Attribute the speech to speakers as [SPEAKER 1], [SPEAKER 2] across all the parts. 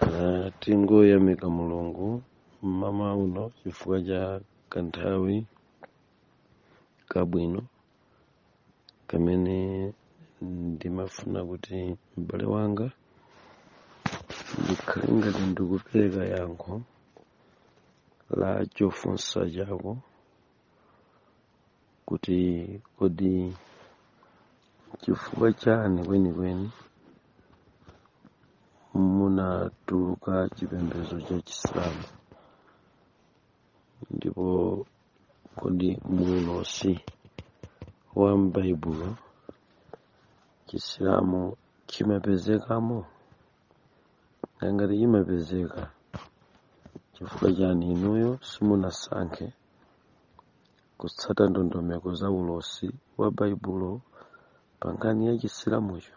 [SPEAKER 1] Ah, tingoyamika mulungu mmawa uno chifukwa cha kanthawi kabwino kamene ndimafuna kuti m'bale wanga ndikhale ngati ndikupereka yankho la chofunsa chako kuti kodi chifukwa chani kwenikweni munatuluka chipembedzo cha chisilamu ndipo kodi muulosi wa m'baibulo chisilamu chimapezekamo Nanga ngati chimapezeka chifukwa chani inuyo simunasankhe kutsata ndondomeko za ulosi wa Baibulo pa nkhani ya chisilamucho?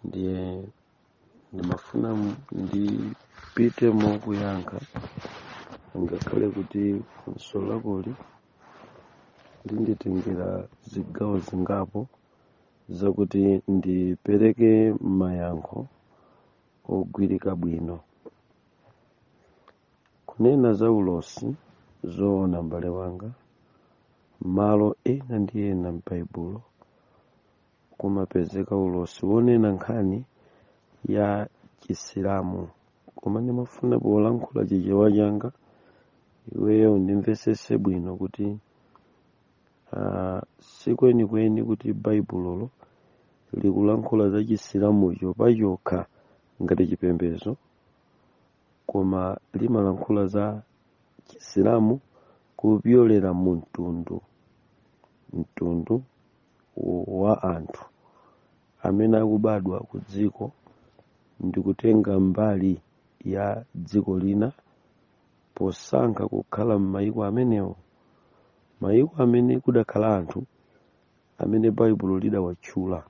[SPEAKER 1] Ndiye ndimafuna m- ndipite mokuyankha ngakhale kuti funso lakoli linditengera zigawo zingapo zakuti ndipereke mayankho ogwirika bwino kunena za ulosi zoona mbale wanga malo ena ndi ena m'baibulo kumapezeka ulosi wonena nkhani ya chisilamu koma ndimafuna polankhula chichewa changa iweyo undimvesese bwino kuti uh, si kwenikweni kuti baibulolo likulankhula za chisilamucho pachokha ngati chipembedzo koma limalankhula za chisilamu kupyolera mu mtundu mtundu wa anthu amene akubadwa ku dziko ndi kutenga mbali ya dziko lina posankha kukhala m'mayiko amenewo mayiko amene kudakhala anthu amene baibulo lidawatchula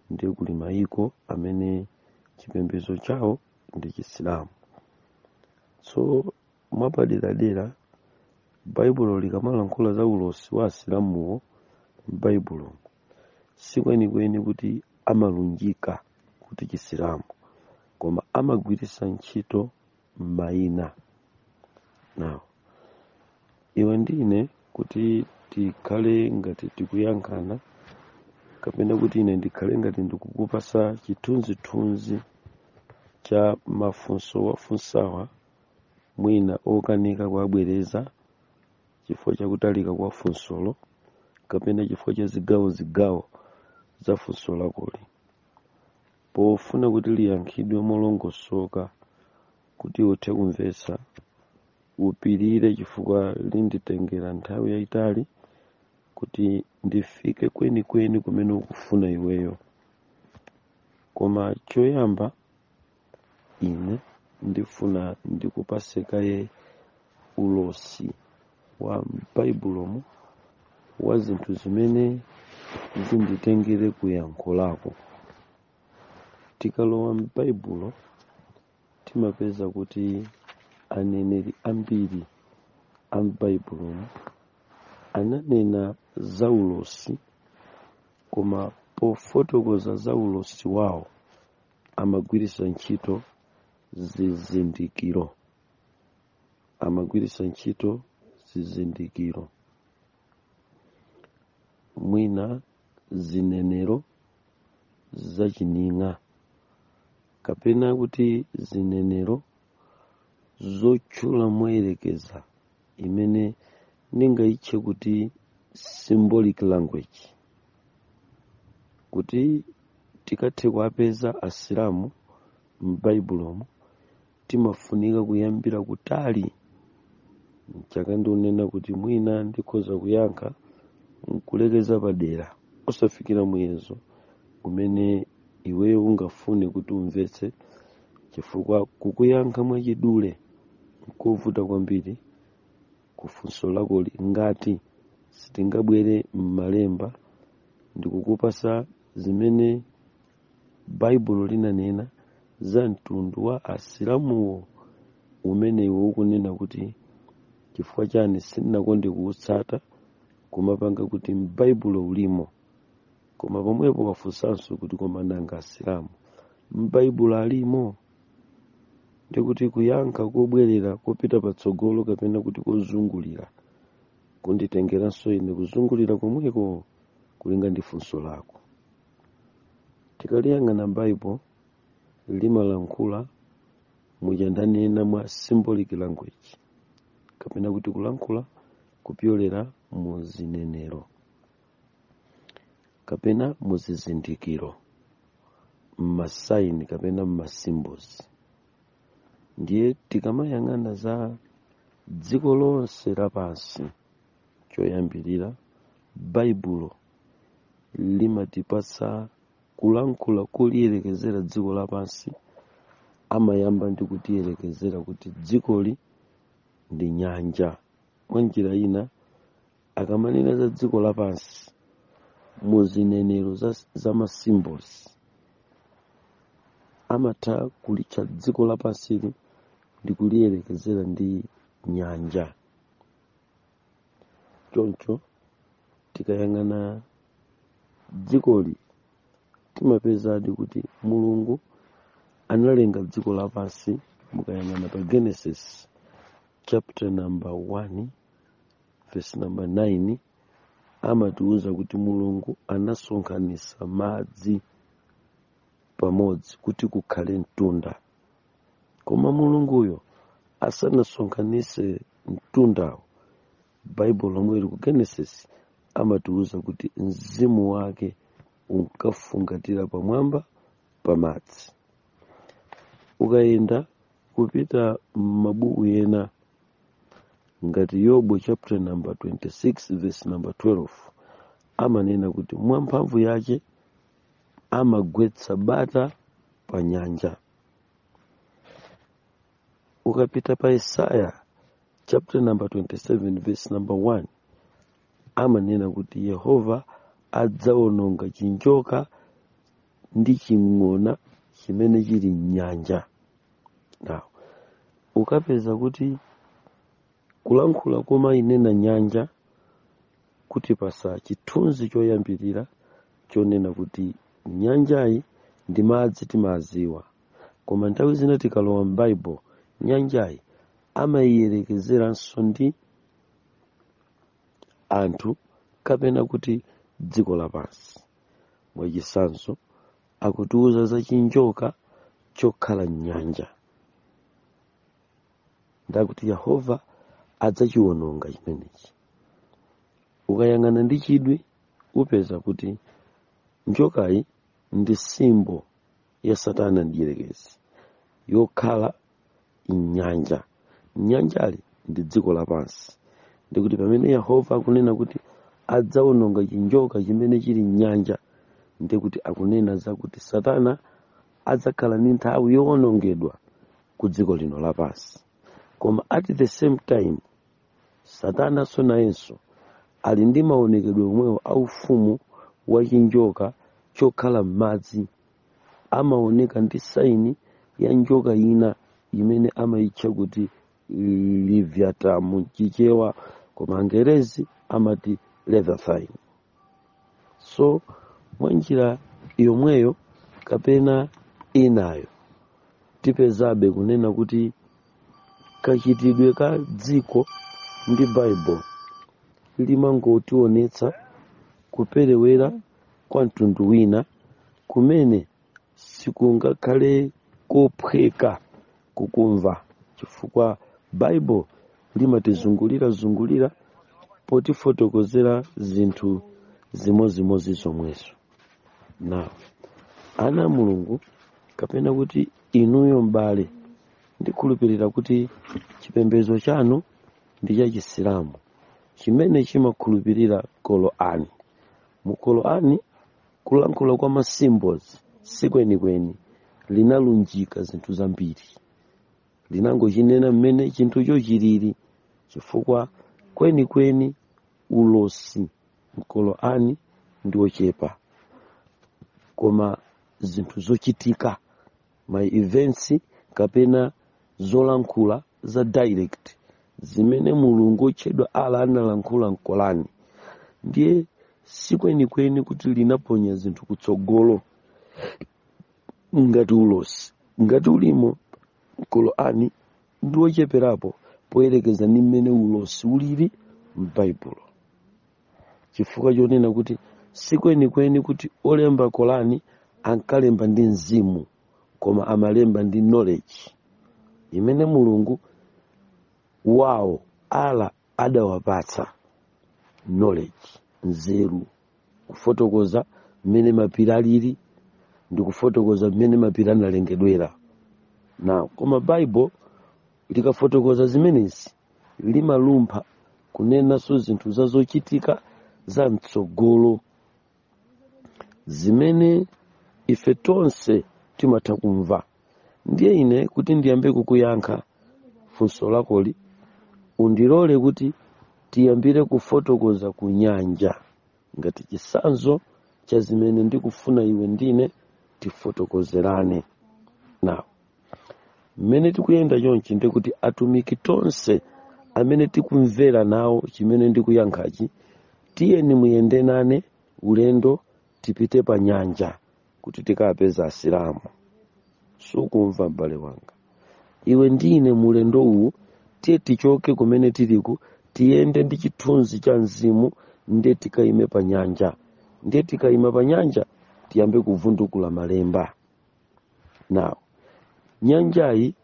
[SPEAKER 1] ndiye kuli mayiko amene chipembedzo chawo ndi chisilamu so mwapaderadera baibulo likamalankhula za ulosi wa asilamuwo m'baibulo sikwenikweni kuti amalunjika kuti chisilamu koma amagwiritsa ntchito mayina now iwe ndi ine kuti tikhale ngati tikuyankhana kapena kuti ine ndikhale ngati ndikukupasa chithunzithunzi cha mafunso wafunsawa mwina okanika kuwabwereza chifukwa chakutalika kwa funsolo kapena chifukwa cha zigawo zigawo za funso lakoli pofuna kuti liyankhidwe molongosoka kuti uthe kumvetsa upirire chifukwa linditengera nthawi yayitali kuti ndifike kwenikweni kumene ukufuna iweyo koma choyamba ine ndifuna ndikupase kaye ulosi wa m'baibulomu wa zinthu zimene zinditengere ku yankho lako tikalowa m'baibulo timapeza kuti aneneri ambiri a m'baibulomu ananena za ulosi koma pofotokoza za ulosi wawo amagwiritsa ntchito zizindikiro amagwiritsa ntchito zizindikiro mwina zinenero zachining'a kapena kuti zinenero zotchula moyerekeza imene ndingayitche kuti symbolic language kuti tikathe kuwapeza asilamu m'baibulomu timafunika kuyambira kutali nchaka ndikunena kuti mwina ndikhoza kuyankha nkulekeza padera osafikira muyezo umene iweyo ungafune kuti umvetse chifukwa kukuyankha mwachidule nkovuta kwambiri kufunso lakoli ngati sitingabwere m'malemba ndikukupasa zimene baibulo linanena za mtundu wa asilamuwo umene iwe ukunena kuti chifukwa chani sindinakonde kuutsata kumapanga kuti m'baibulo ulimo koma pomwepo wafunsanso kuti koma nanga asilamu m'baibulo alimo ndikuti kuyankha kobwerera kopita patsogolo kapena kuti kozungulira kunditengeranso ine kuzungulira komweko kulinga ndi funso lako tikaliyang'ana bible limalankhula muja ndanena mwa symbolic language kapena kuti kulankhula kupyolera mu zinenero kapena mu zizindikiro mmasaini kapena mmasymbols ndiye tikamayang'ana za dziko lonse lapansi choyambirira baibulo limatipatsa kulankhula kuliyerekezera dziko lapansi amayamba ndi kutiyerekezera kuti dzikoli ndi nyanja mwa njira ina akamanena za dziko lapansi mu zinenero za masymbols amatha kulitcha dziko lapansili ndi kuliyerekezera ndi nyanja choncho tikayang'ana dzikoli timapezadi kuti mulungu analenga dziko lapansi mukayang'ana pa genesis chapter number 1 verse number 9 amatiuza kuti mulungu anasonkhanisa madzi pamodzi kuti kukhale mtunda koma mulunguyo asanasonkhanitse mtundawo baibulo lomwe lili ku genesis amatiwuza kuti mzimu wake unkafungatira pamwamba pamadzi ukayenda kupita m'mabuku ena ngati yobu chapter number 26 verse number 12 amanena kuti mwamphamvu yace amagwetsa bata pa nyanja ukapita pa isaiah chapter number 27 verse number 1 amanena kuti yehova adzaononga chinjoka ndi ching'ona chimene chili m'nyanja now ukapeza kuti kulankhula komayinena nyanja kutipasa chithunzi choyambirira chonena kuti nyanjayi ndi madzi timaziwa koma nthawi zina tikalowa m'baibulo nyanjayi amayiyerekezeranso ndi anthu kapena kuti dziko lapansi mwachisanzo akutiuza za chinjoka chokhala m'nyanja ndakuti yehova adzachiwononga chimenechi ukayang'ana ndi chidwi upeza kuti njokayi ndi simbo ya satana mdierekezi yokhala m'nyanja nyanjali ndi dziko lapansi ndikuti pamene yehova akunena kuti adzawononga chinjoka chimene chili m'nyanja ndikuti akunena zakuti satana adzakhala ndi nthawi yowonongedwa ku dziko lino lapansi koma at the same time satananso nayenso ali ndi maonekedwe omwewo a ufumu wa chinjoka chokhala m'madzi amaoneka ndi saini ya njoka ina imene amayitcha kuti Leviyatani m'Chichewa koma angerezi amati leviathan so mwa njira yomweyo kapena inayo tipezabe kunena kuti kachitidwe ka dziko ndi baibulo limangotionetsa kuperewera kwa mtundu wina kumene sikungakhale kophweka kukumva chifukwa baibulo limatizungulira zungulira potifotokozera zinthu zimozimozi zomwezo now ana a mulungu kapena kuti inuyo m'bale ndikhulupirira kuti chipembedzo chanu ndi cha chisilamu chimene chimakhulupirira korani mu korani kulankhula kwa ma symbols sikwenikweni linalunjika zinthu zambiri linangochinena mmene chinthucho chilili chifukwa kwenikweni ulosi m'korani ndi wochepa koma zinthu zochitika ma events kapena zolankhula za direct zimene mulungu wotchedwa Allah analankhula m'korani ndiye sikwenikweni kuti linaponya zinthu kutsogolo ngati ulosi ngati ulimo m'korani ndi wocheperapo poyerekeza ndi mmene ulosi ulili m'baibulo chifukwa chonena kuti sikwenikweni kuti olemba korani ankalemba ndi mzimu koma amalemba ndi knowledge imene mulungu wawo Allah adawapatsa knowledge nzeru kufotokoza mmene mapiri alili ndi kufotokoza mmene mapiri analengedwera now koma bible Likafotokoza zimenezi, limalumpha kunenanso zinthu za zochitika za mtsogolo zimene ife tonse timatha kumva. Ndiye ine kuti ndiyambe kukuyankha funso lakoli, undilole kuti tiyambire kufotokoza ku nyanja ngati chisanzo cha zimene ndikufuna iwe ndine tifotokozerane nawo. mmene tikuyenda chonchi ndi kuti atumiki tonse amene tikumvera nawo chimene ndikuyankhachi tiyeni muyende nane ulendo tipite pa nyanja kuti tikapeza asilamu sukumva m'bale wanga iwe ndi ine mu ulendo uwu tiye tichoke kumene tiliku tiyende ndi chithunzi cha mzimu ndiye tikayime pa nyanja ndiye tikayima pa nyanja tiyambe kuvundukula malemba now nyanjayi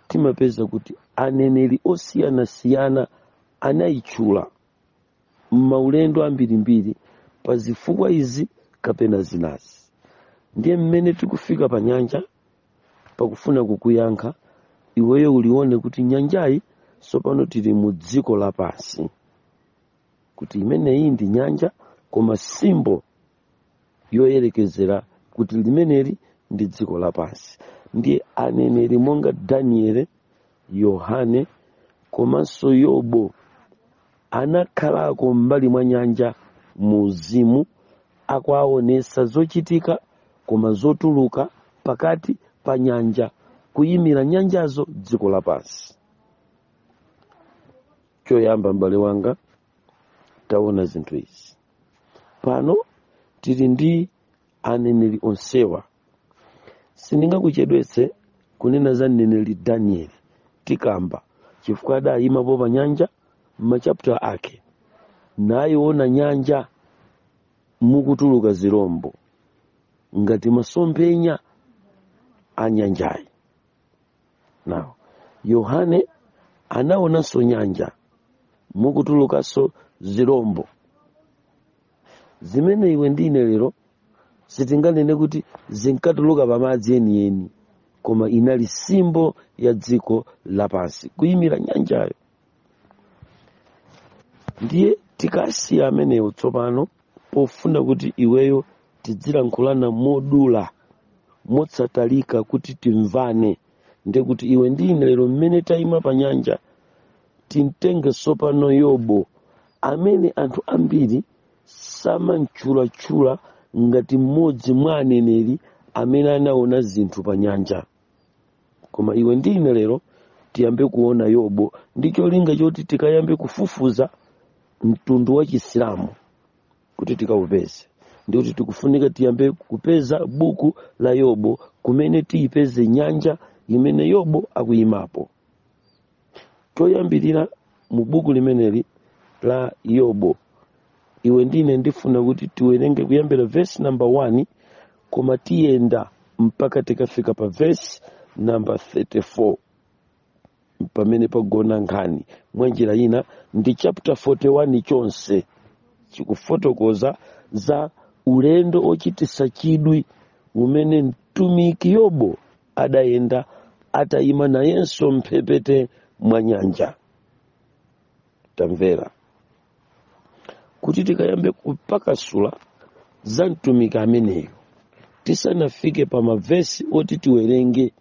[SPEAKER 1] timapeza kuti aneneri osiyanasiyana anayitchula m'maulendo ambirimbiri pa zifukwa izi kapena zinazi ndiye mmene tikufika pa nyanja pakufuna kukuyankha iweyo ulione kuti nyanjayi tsopano tili mu dziko lapansi kuti imeneyi ndi nyanja koma symbol yoyerekezera kuti limeneli ndi dziko lapansi ndiye aneneri monga danieli yohane komanso yobo anakhalako m'mbali mwa nyanja mu uzimu akuwaonesa zochitika koma zotuluka pakati pa nyanja kuyimira nyanjazo dziko lapansi choyamba m'bale wanga taona zinthu izi pano tili ndi aneneri onsewa sindingakuchedwetse kunena za mneneri danieli tikamba chifukwa adayimapo pa nyanja m'machapter ake nayiona nyanja mukutuluka zirombo ngati masomphenya a nyanjayi now yohane anaonanso nyanja mukutulukanso zirombo zimene iwe ndi ine lero sitinganene kuti zinkatuluka pamadzi enieni koma inali symbol ya dziko lapansi kuyimira nyanjayo ndiye tikasiya amenewo tsopano pofuna kuti iweyo tidzilankhulana modula motsatalika kuti timvane ndiye kuti iwe ndi ine lero mmene tayima pa nyanja timtenge tsopano yobo amene anthu ambiri samamtchulatchula ngati mmodzi mwa aneneri amene anaona zinthu pa nyanja koma iwe ndi ine lero tiyambe kuona yobo ndi cholinga choti tikayambe kufufuza mtundu wa chisilamu kuti tikaupeze ndi kuti tikufunika tiyambe kupeza buku la yobo kumene tiyipeze nyanja imene yobo akuyimapo choyambirira mu buku limeneli la yobo iwe ndine ndifuna kuti tiwerenge kuyambira vesi namba 1 koma tiyenda mpaka tikafika pa vesi namba 34 pamene pagona nkhani mwa njira ina ndi chapter 41 chonse chikufotokoza za ulendo ochitisa chidwi umene mtumiki yobo adayenda atayima nayenso mphepete mwa nyanja tamvera kuti tikayambe kupakasula za mtumiki ameneyo tisanafike pa mavesi oti tiwerenge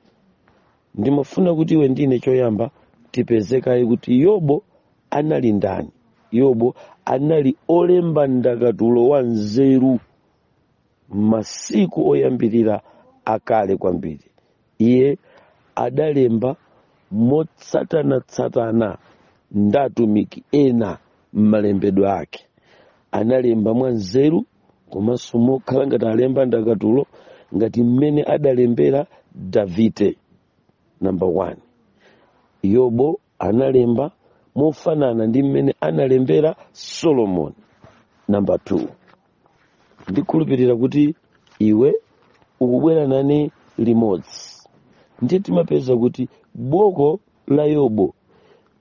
[SPEAKER 1] ndimafuna kuti iwe ndine choyamba tipeze kaye kuti yobo anali ndani yobo anali olemba ndakatulo wanzeru masiku oyambirira akale kwambiri iye adalemba motsatanatsatana ndi atumiki ena m'malembedwe ake analemba mwa nzeru komanso mokhala ngati alemba ndakatulo ngati mmene adalembera davide namba 1 yobo analemba mofanana ndi mmene analembera solomoni namba 2 ndikhulupirira kuti iwe ukubwera nane limodzi ndiye timapeza kuti buku la yobo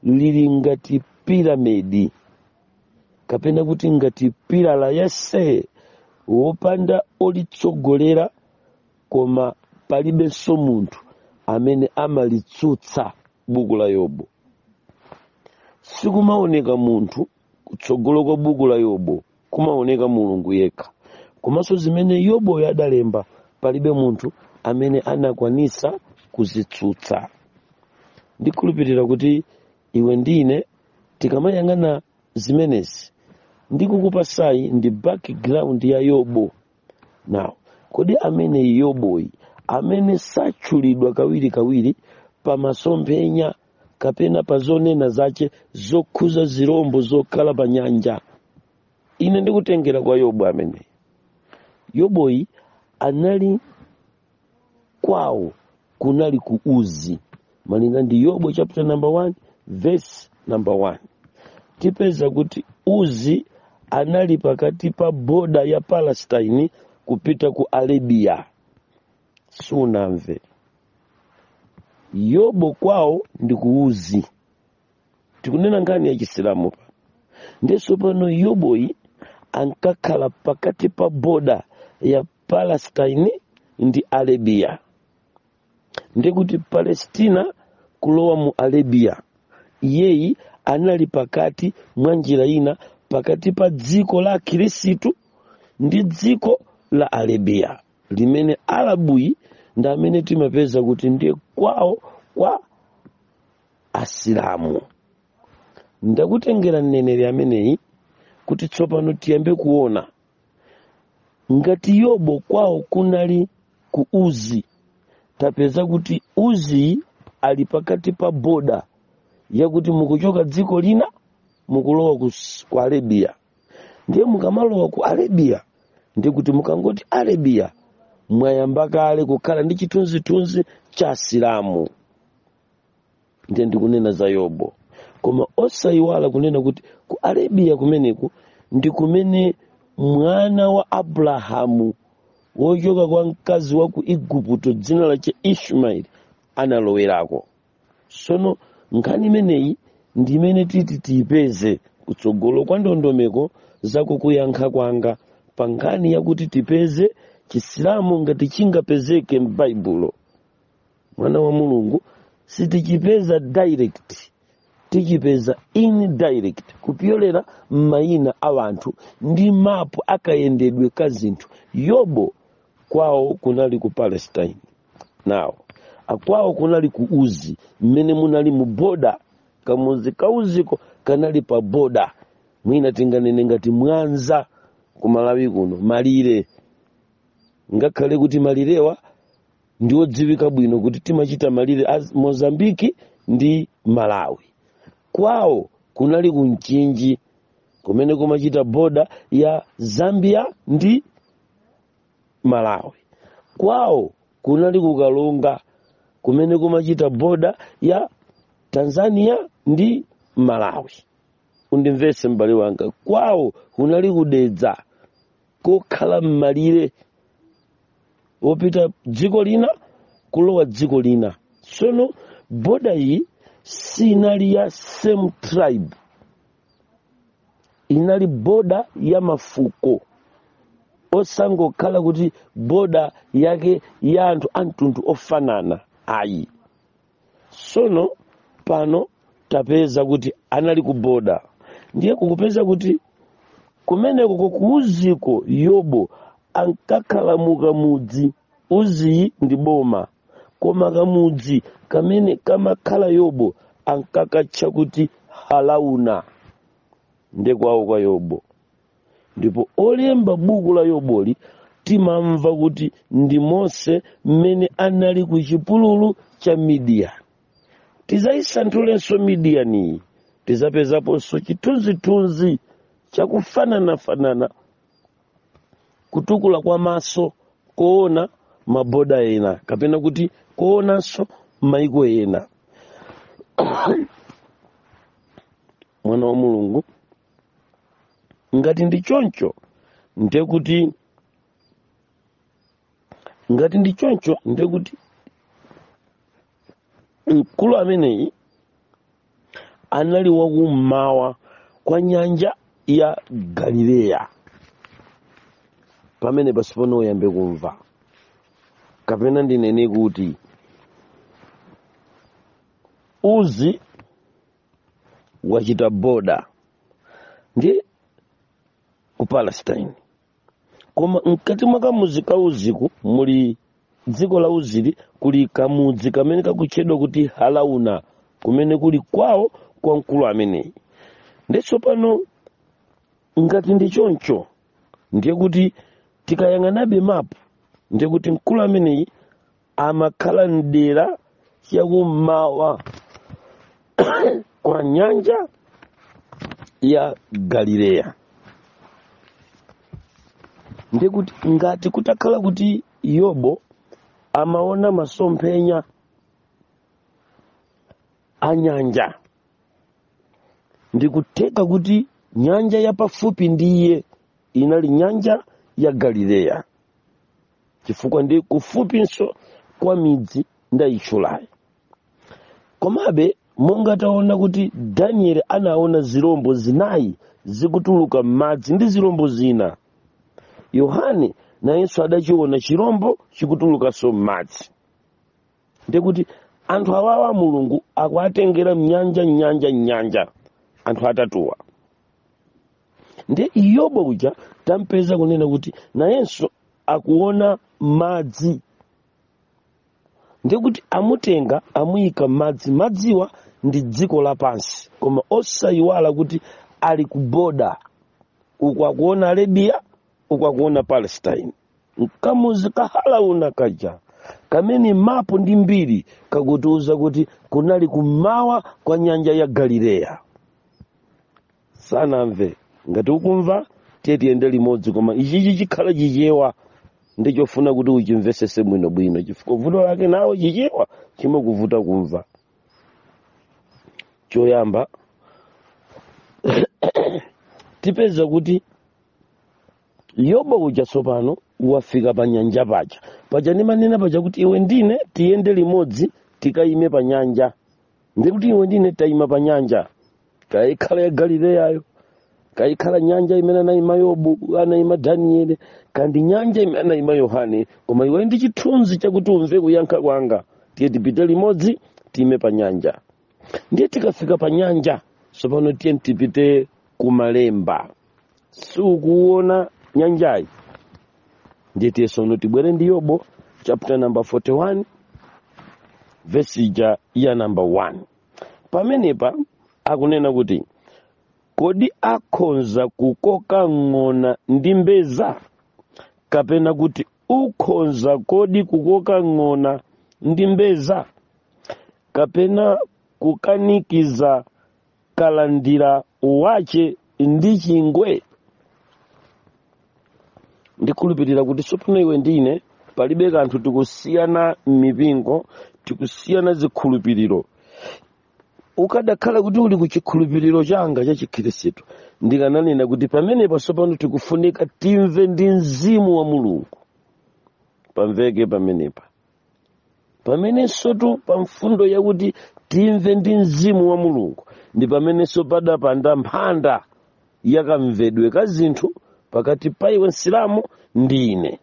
[SPEAKER 1] lili ngati piramidi kapena kuti ngati pilala yense wopanda olitsogolera koma palibenso munthu amene amalitsutsa buku la yobo sikumaoneka munthu kutsogolo kwa buku la yobo kumaoneka mulungu yekha komanso zimene yoboyo adalemba palibe munthu amene anakwanitsa kuzitsutsa ndikhulupirira kuti iwe ndi ine tikamayang'ana zimenezi ndikukupatsayi ndi background ya yobo now kodi ameneyi yoboyi amene satchulidwa kawirikawiri pa masomphenya kapena pa zonena zache zokhuza zilombo zokhala pa nyanja ine ndikutengera kwa yobo ameneyi yoboyi anali kwawo kunali ku uzi malinga ndi yobo chapter number 1 verse number 1 tipeza kuti uzi anali pakati pa boda ya palestine kupita ku arabia siunamve yobo kwawo ndi ku uzi tikunena nkhani ya chisilamu pa ndiye tsopano yoboyi ankakhala pakati pa boda ya palestine ndi arabia ndiye kuti palestina kulowa mu arabia iyeyi anali pakati mwa njira ina pakati pa dziko la akhirisitu ndi dziko la arabia limene arabuyi ndi amene timapeza kuti ndiye kwawo kwa asilamu ndakutengera mneneri ameneyi kuti tsopano tiyambe kuona ngati yobo kwawo kunali ku uzi tapeza kuti uziyi ali pakati pa boda yakuti mukuchoka dziko lina mukulowa ku arabiya ndiye mukamalowa ku arabiya ndiye kuti mukangoti arabiya mwayamba kale kukhala ndi chithunzithunzi cha asilamu ndiye ndikunena za yobo koma osayiwala kunena kuti ku arabiya kumeneku ndi kumene mwana wa abrahamu wochoka kwa mkazi wa ku igupto dzina lache ishmaeli analowerako sono nkhani imeneyi ndi imene titi tiyipeze kutsogolo kwa ndondomeko za kukuyankha kwanga pa nkhani yakuti tipeze chisilamu ngati chingapezeke m'baibulo mwana wa mulungu sitichipeza direct tichipeza indirect kupyolera m'mayina a wanthu ndi mapu akayendedwe ka zinthu yobo kwawo kunali ku palestine no ah kwawo kunali ku uzi mmene munali mu boda kamuzi kauziko kanali pa boda mwina tinganene ngati mwanza ku malawi kuno malire ngakhale kuti malirewa ndi odziwika bwino kuti timachita malire a mozambiki ndi malawi kwawo kunali ku mchinji kumene kumachita boda ya zambia ndi malawi kwawo kunali ku karonga kumene kumachita boda ya tanzania ndi malawi undimvetse m'bale wanga kwawo kunali ku dedza kokhala m'malire wopita dziko lina kulowa dziko lina sono boda iyi sinali ya same tribe inali boda ya mafuko osangokhala kuti boda yake ya anthu a mtundu ofanana ayi sono pano tapeza kuti anali ku boda ndiye kukupeza kuti kumeneko ko ku uziko yobo ankakhala mu kamudzi uziyu ndi boma koma kamudzi kamene kamakhala yobo ankakatcha kuti halauna nde kwawo kwa yobo ndipo olemba buku la yoboli timamva kuti ndi mose mmene anali ku chipululu cha midiyani tizaisanthulanso midiyaniyi tizapezaponso chithunzithunzi chakufananafanana kutukula kwa maso koona maboda ena kapena kuti koonanso maiko ena mwana wa mulungu ngati ndi choncho ndekuti ngati ndi choncho ndekuti mkulu ameneyi anali wakummawa kwa nyanja ya galileya pamene pasipano uyambe kumva kapena ndinene kuti uzi wachita boda ndi ku palestine koma mkati mwa kamudzi ka uziku muli dziko la uzili kuli kamudzi kamene kakutchedwa kuti halauna kumene kuli kwawo kwa mkulu ameneyi nde tsopano ngati ndi choncho ndiye kuti tikayang'anabe mapu ndiye kuti mkulu ameneyi amakhala mdera chakummawa kwa nyanja ya galileya nde kuti ngati kutakhala kuti yobo amaona masomphenya a nyanja ndikutheka kuti nyanja yapafupi ndi iye inali nyanja ya galileya chifukwa ndi kufupinso kwa midzi ndayitchulayi komabe monga taona kuti danieli anaona zirombo zinayi zikutuluka m'madzi ndi zirombo zina yohane nayenso adachiona chirombo chikutulukanso m'madzi ndiye kuti anthu awawa mulungu akuwatengera mnyanja mnyanja mnyanja anthu atatuwa nde iyobo uja tampeza kunena kuti nayenso akuona madzi ndiye kuti amutenga amuyika mmadzi madziwa ndi dziko lapansi koma osayiwala kuti ali ku boda uku akuona arabia uku akuona palestine mkamudzi ka halauna kaja kamene mapu ndi mbiri kakutiuza kuti kunali kummawa kwa nyanja ya galileya sanamve ngati ukumva tiye tiyende limodzi koma ichichi chikhala chichewa ndi chofuna kuti uchimvesese bwinobwino chifukwa vuto lake nawo chichewa chimakuvuta kumva choyamba tipeza kuti yobo uja tsopano wafika pa nyanja paja paja ndimanena paja kuti iwe ndine tiyende limodzi tikayime pa nyanja ndiye kuti iwe ndine tayima pa nyanja kaya ikhala ya galileyayo kaya ikhala nyanja imene anayima yobu anayima daniele kaya ndi nyanja imene anayima yohane koma iwe ndi chithunzi chakuti umve kuyankha kwanga tiye tipite limodzi tiyime pa nyanja ndiye tikafika pa nyanja tsopano tiye tipite kumalemba sukuona nyanjayi ndiye tiye tsono tibwere ndi yobo chapter number 41 vesi ija ya number 1 pamenepa akunena kuti kodi akhonza kukoka ng'ona ndi mbedza kapena kuti ukhonza kodi kukoka ng'ona ndi mbedza kapena kukanikiza kalandira wache ndi chingwe ndikhulupirira kuti tsopano iwe ndine palibe kanthu tikusiyana m'mipingo tikusiyana zikhulupiriro ukadakhala kuti uli ku chikhulupiriro changa cha chikhristu ndikananena kuti pamenepa tsopano tikufunika timve ndi mzimu wa mulungu pamveke pamenepa pamenensotu pa mfundo yakuti timve ndi mzimu wa mulungu ndi pamenenso padapanda mphanda yakamvedwe ka zinthu pakati pa iwe msilamu ndi ine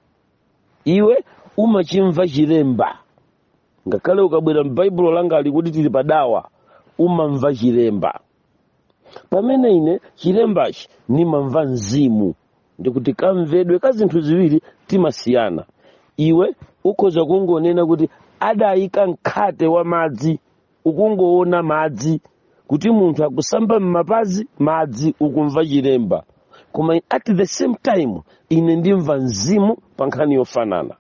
[SPEAKER 1] iwe umachimva chilemba ngakhale ukabwera m'baibulo langa lija kuti tili padawa umamva chilemba pamene ine chilembachi ndimamva mzimu ndikuti kamvedwe ka zinthu ziwiri timasiyana iwe ukhoza kungonena kuti adayika mkhate wa madzi ukungoona madzi kuti munthu akusamba m'mapazi madzi ukumva chilemba koma at the same time ine ndimva mzimu pa nkhani yofanana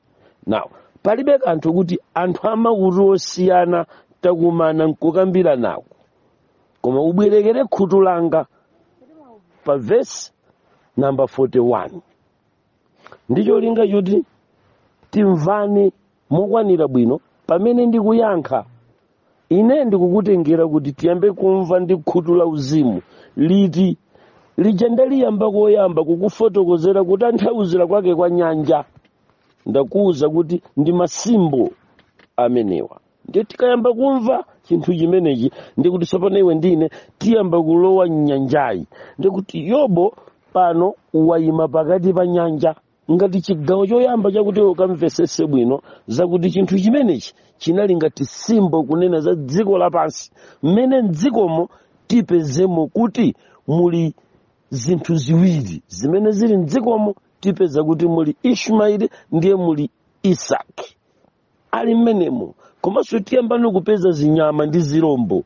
[SPEAKER 1] now palibe kanthu kuti anthu amakutu osiyana takumana nkukambiranako koma ubwerekere khutu langa pa vesi namba 41 ndi cholinga choti timvane mokwanira bwino pamene ndikuyankha ine ndikukutengera kuti tiyambe kumva ndi khutu la uzimu liti lija ndaliyamba koyamba kukufotokozera kutanthauzira kwake kwa nyanja ndakuwuza kuti ndi masimbo amenewa ndiye tikayamba kumva chinthu chimenechi ndikuti tsopano iwe ndine tiyamba kulowa mnyanjayi ndikuti yobo pano wayima pakati pa nyanja ngati chigawo choyamba chakuti iwe ukamvesese bwino zakuti chinthu chimenechi chinali ngati simbo kunena za dziko lapansi mmene mdzikomo tipezemo kuti muli zinthu ziwiri zimene zili mdzikomo tipeza kuti muli ishmaeli ndiye muli isaki ali mmenemo komanso tiyambano kupeza zinyama ndi zirombo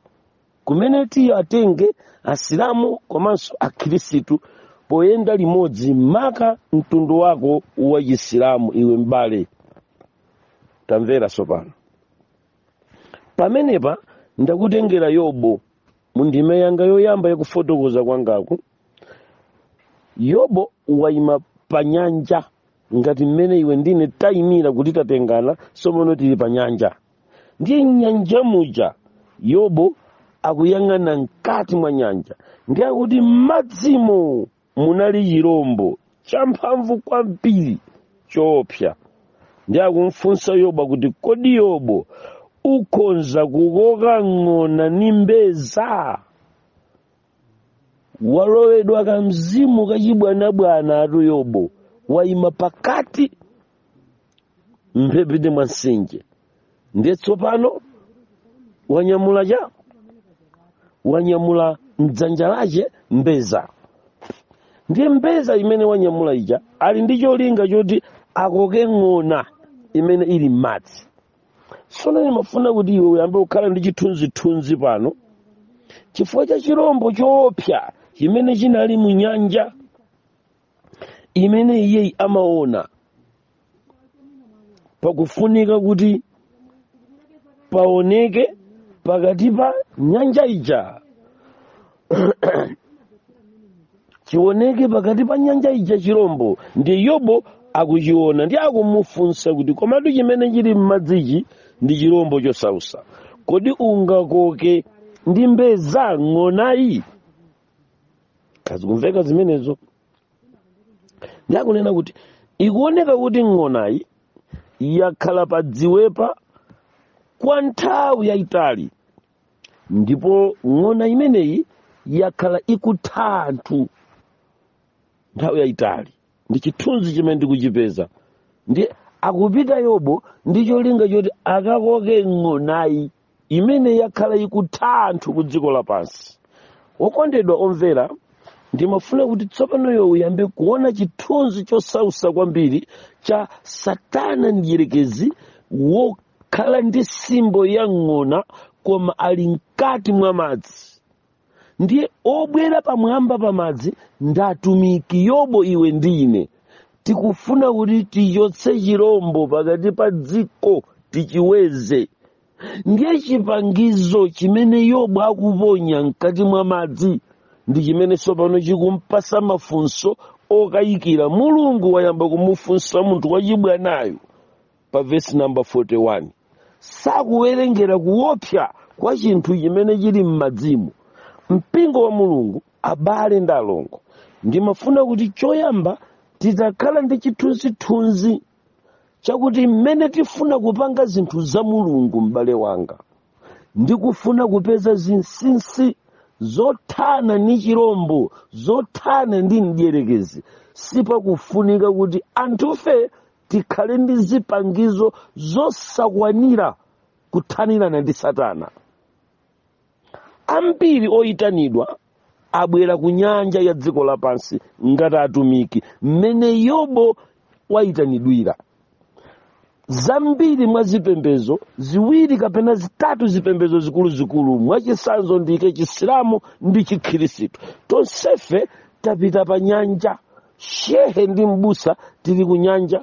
[SPEAKER 1] kumene tiye atenge asilamu komanso akhirisitu poyenda limodzi maka mtundu wako wa chisilamu iwe m'bale tamvera tsopano pamenepa ndakutengera yobo mu ndime yanga yoyamba yakufotokoza kwangaku yobo waima pa nyanja ngati mmene iwe ndine tayimira kuti tatengana somono tili pa nyanja ndiye nyanja muja yobo akuyang'ana mkati mwa nyanja ndiye akuti m'madzimo munali chirombo champhamvu kwambiri choopsa ndiye akumfunsa yobo kuti kodi yobo ukhonza kukoka ng'ona ndi mbeza walowedwa kamzimu kachibwanabwana ati yobo wayima pakati mphepete mwa mtsinje ndiye tsopano wanyamula cha wanyamula mdzanja lache mbeza ndiye mbeza imene wanyamula ija ali ndi cholinga choti akoke ng'ona imene ili m'madzi tsono ndimafuna kuti iwe uyambe kukhala ndi chithunzithunzi pano chifukwa cha chirombo choopsa chimene chinali mu nyanja imene iyeyi amaona pakufunika kuti paoneke pakati pa nyanja ija chioneke pakati pa nyanja ija chirombo ndiye yobo akuchiona ndiye akumufunsa kuti komatu chimene chili m'madzichi ndi chirombo chosausa kodi ungakoke ndi mbeza ng'onayi kaya zikumveka zimenezo ndiye akunena kuti ikuoneka kuti ng'onayi yakhala pa dziwepa kwa nthawi yayitali ndipo ng'ona imeneyi yakhala ikutha anthu nthawi yayitali ndi chithunzi chimene ndikuchipeza ndiye akupita yobo ndi cholinga choti akakoke ng'onayi imene yakhala ikutha anthu ku dziko lapansi okondedwa omvera ndimafuna kuti tsopano iwe uyambe kuona chithunzi chosausa kwambiri cha satana mdyerekezi wo- khala ndi simbo ya ng'ona koma ali mkati mwa madzi ndiye obwera pamwamba pa madzi ndi atumiki yobo iwe ndi ine tikufuna kuti tichotse chirombo pakati pa dziko tichiweze ndiye chipangizo chimene yobo akuponya mkati mwa madzi ndi chimene tsopano chikumpatsa mafunso okayikira mulungu wayamba kumufunsa munthu wachibwanayo pa vesi namba 41 sakuwerengera kuopsa kwa chinthu chimene chili m'madzimu mpingo wa mulungu abale ndi alongo ndimafuna kuti choyamba titakhala ndi chithunzithunzi chakuti mmene tifuna kupanga zinthu za mulungu m'bale wanga ndi kufuna kupeza zinsinsi zothana ndi chirombo zothana ndi mdierekezi sipakufunika kuti anthufe tikhale ndi zipangizo zosakwanira kuthanirana ndi satana ambiri oyitanidwa abwera ku nyanja ya dziko lapansi ngati atumiki mmene yobo wayitanidwira zambiri mwa zipembedzo ziwiri kapena zitatu zipembedzo zikuluzikulu mwachitsanzo ndiike chisilamu ndi chikhristu tonsefe tapita pa nyanja shehe ndi mbusa tili kunyanja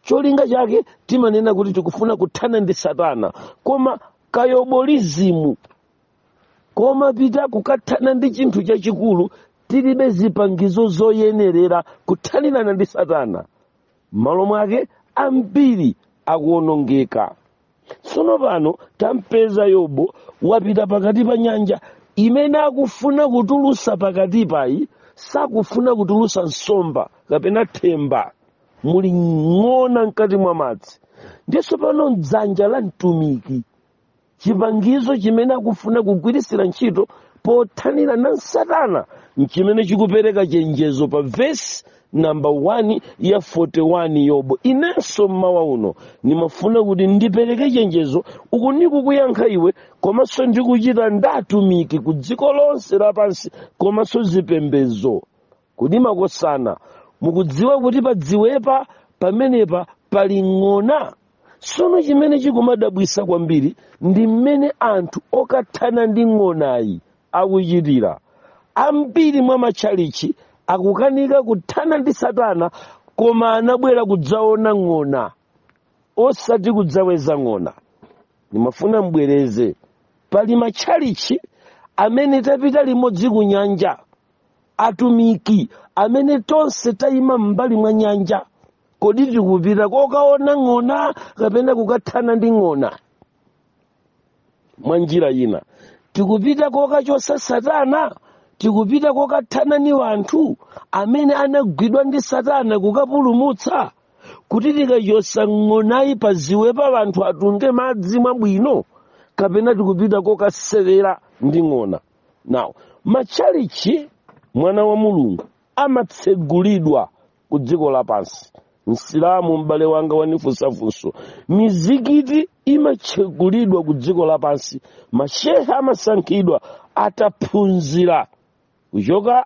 [SPEAKER 1] cholinga chake timanena kuti tikufuna kuthana ndi satana koma kayobolizimu komapita kukathana ndi chinthu chachikulu tilibe zipangizo zoyenerera kuthanirana ndi satana m'malo mwake ambiri akuwonongeka tsono pano tampeza yobu wapita pakati pa nyanja imene akufuna kutulusa pakati payi sakufuna kutulusa nsomba kapena themba muli ng'ona mkati mwa madzi ndiye tsopano mdzanja la mtumiki chipangizo chimene akufuna kugwiritsira ntchito pothanira na satana nchimene chikupereka chenjezo pa vesi namba 1 ya 41 yobo inenso mmawa uno ndimafuna kuti ndipereke chenjezo uku ndikukuyankha iwe komanso ndikuchita nd'atumiki ku dziko lonse lapansi komanso zipembedzo kodi makosana mukudziwa kuti padziwepa pamenepa pali ng'ona sono chimene chikumadabwisa kwambiri ndi mmene anthu okathana ndi ng'onayi akuchitira. Ambiri mwa matchalitchi akukanika kuthana ndi Satana koma anabwera kudzaona ng'ona osati kudzaweza ng'ona. Ndimafuna mbwereze pali matchalitchi amene tapita limodzi ku nyanja atumiki amene tonse tayima m'mbali mwa nyanja kodi tikupita kokaona ng'ona kapena kukathana ndi ng'ona mwa njira ina tikupita kokachotsa satana tikupita kokathana ni wanthu amene anagwidwa ndi satana kukapulumutsa kuti tikachotsa ng'onayi padziwepa wanthu atunge madzi mwabwino kapena tikupita kokasewera ndi ng'ona now matchalitchi mwana wa mulungu amatsegulidwa ku dziko lapansi msilamu m'bale wanga wanifunsa funso mizikiti imatsegulidwa ku dziko lapansi mashehe amasankhidwa ataphunzira kuchoka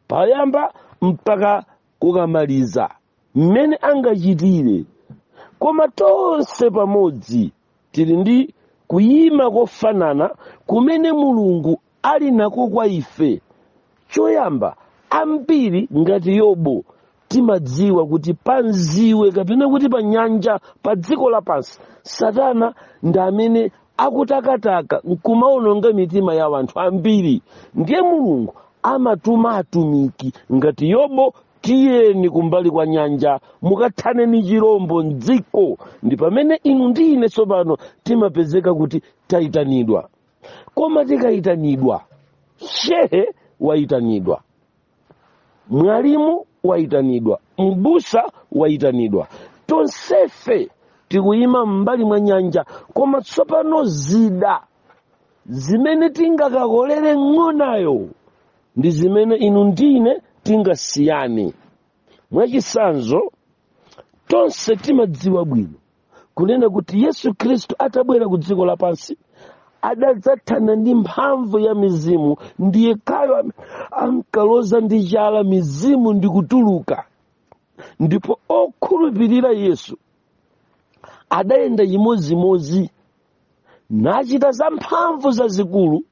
[SPEAKER 1] payamba mpaka kukamaliza mmene angachitire koma tonse pamodzi tili ndi kuyima kofanana kumene mulungu ali nako kwa ife choyamba ambiri ngati yobu timadziwa kuti padziwe kapena kuti pa nyanja pa dziko lapansi satana ndi amene akutakataka nkumaononga mitima ya wanthu ambiri ndiye mulungu amatuma atumiki ngati yobu tiyeni kumbali kwa nyanja mukathane ni chirombo mdziko ndi pamene inu ndi ine tsopano timapezeka kuti tayitanidwa koma tikayitanidwa shehe wayitanidwa mwalimu wayitanidwa mbusa wayitanidwa tonsefe tikuyima m'mbali mwa nyanja koma tsopano zida zimene tingakakolere ng'onayo ndi zimene inu ndine tingasiyane mwachitsanzo tonse timadziwa bwino kunena kuti yesu khristu atabwera ku dziko lapansi adadzathana ndi mphamvu ya mizimu ndiye kaya am- amkaloza ndi chala mizimu ndi kutuluka ndipo okhulupirira yesu adayenda chimodzimodzi nachita zamphamvu zazikulu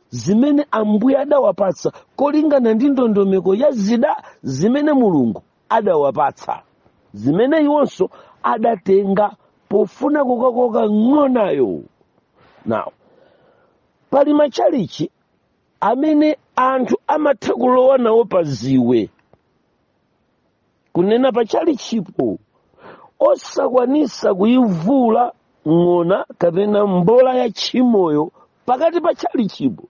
[SPEAKER 1] zimene ambuye adawapatsa kolingana ndi ndondomeko ya zida zimene mulungu adawapatsa zimene iwonso adatenga pofuna kukakoka ng'onayo now pali matchalichi amene anthu amatha kulowa nawo pa dziwe kunena pa chalichipo osakwanisa kuyivula ng'ona kapena mbola ya tchimoyo pakati pa chalichipo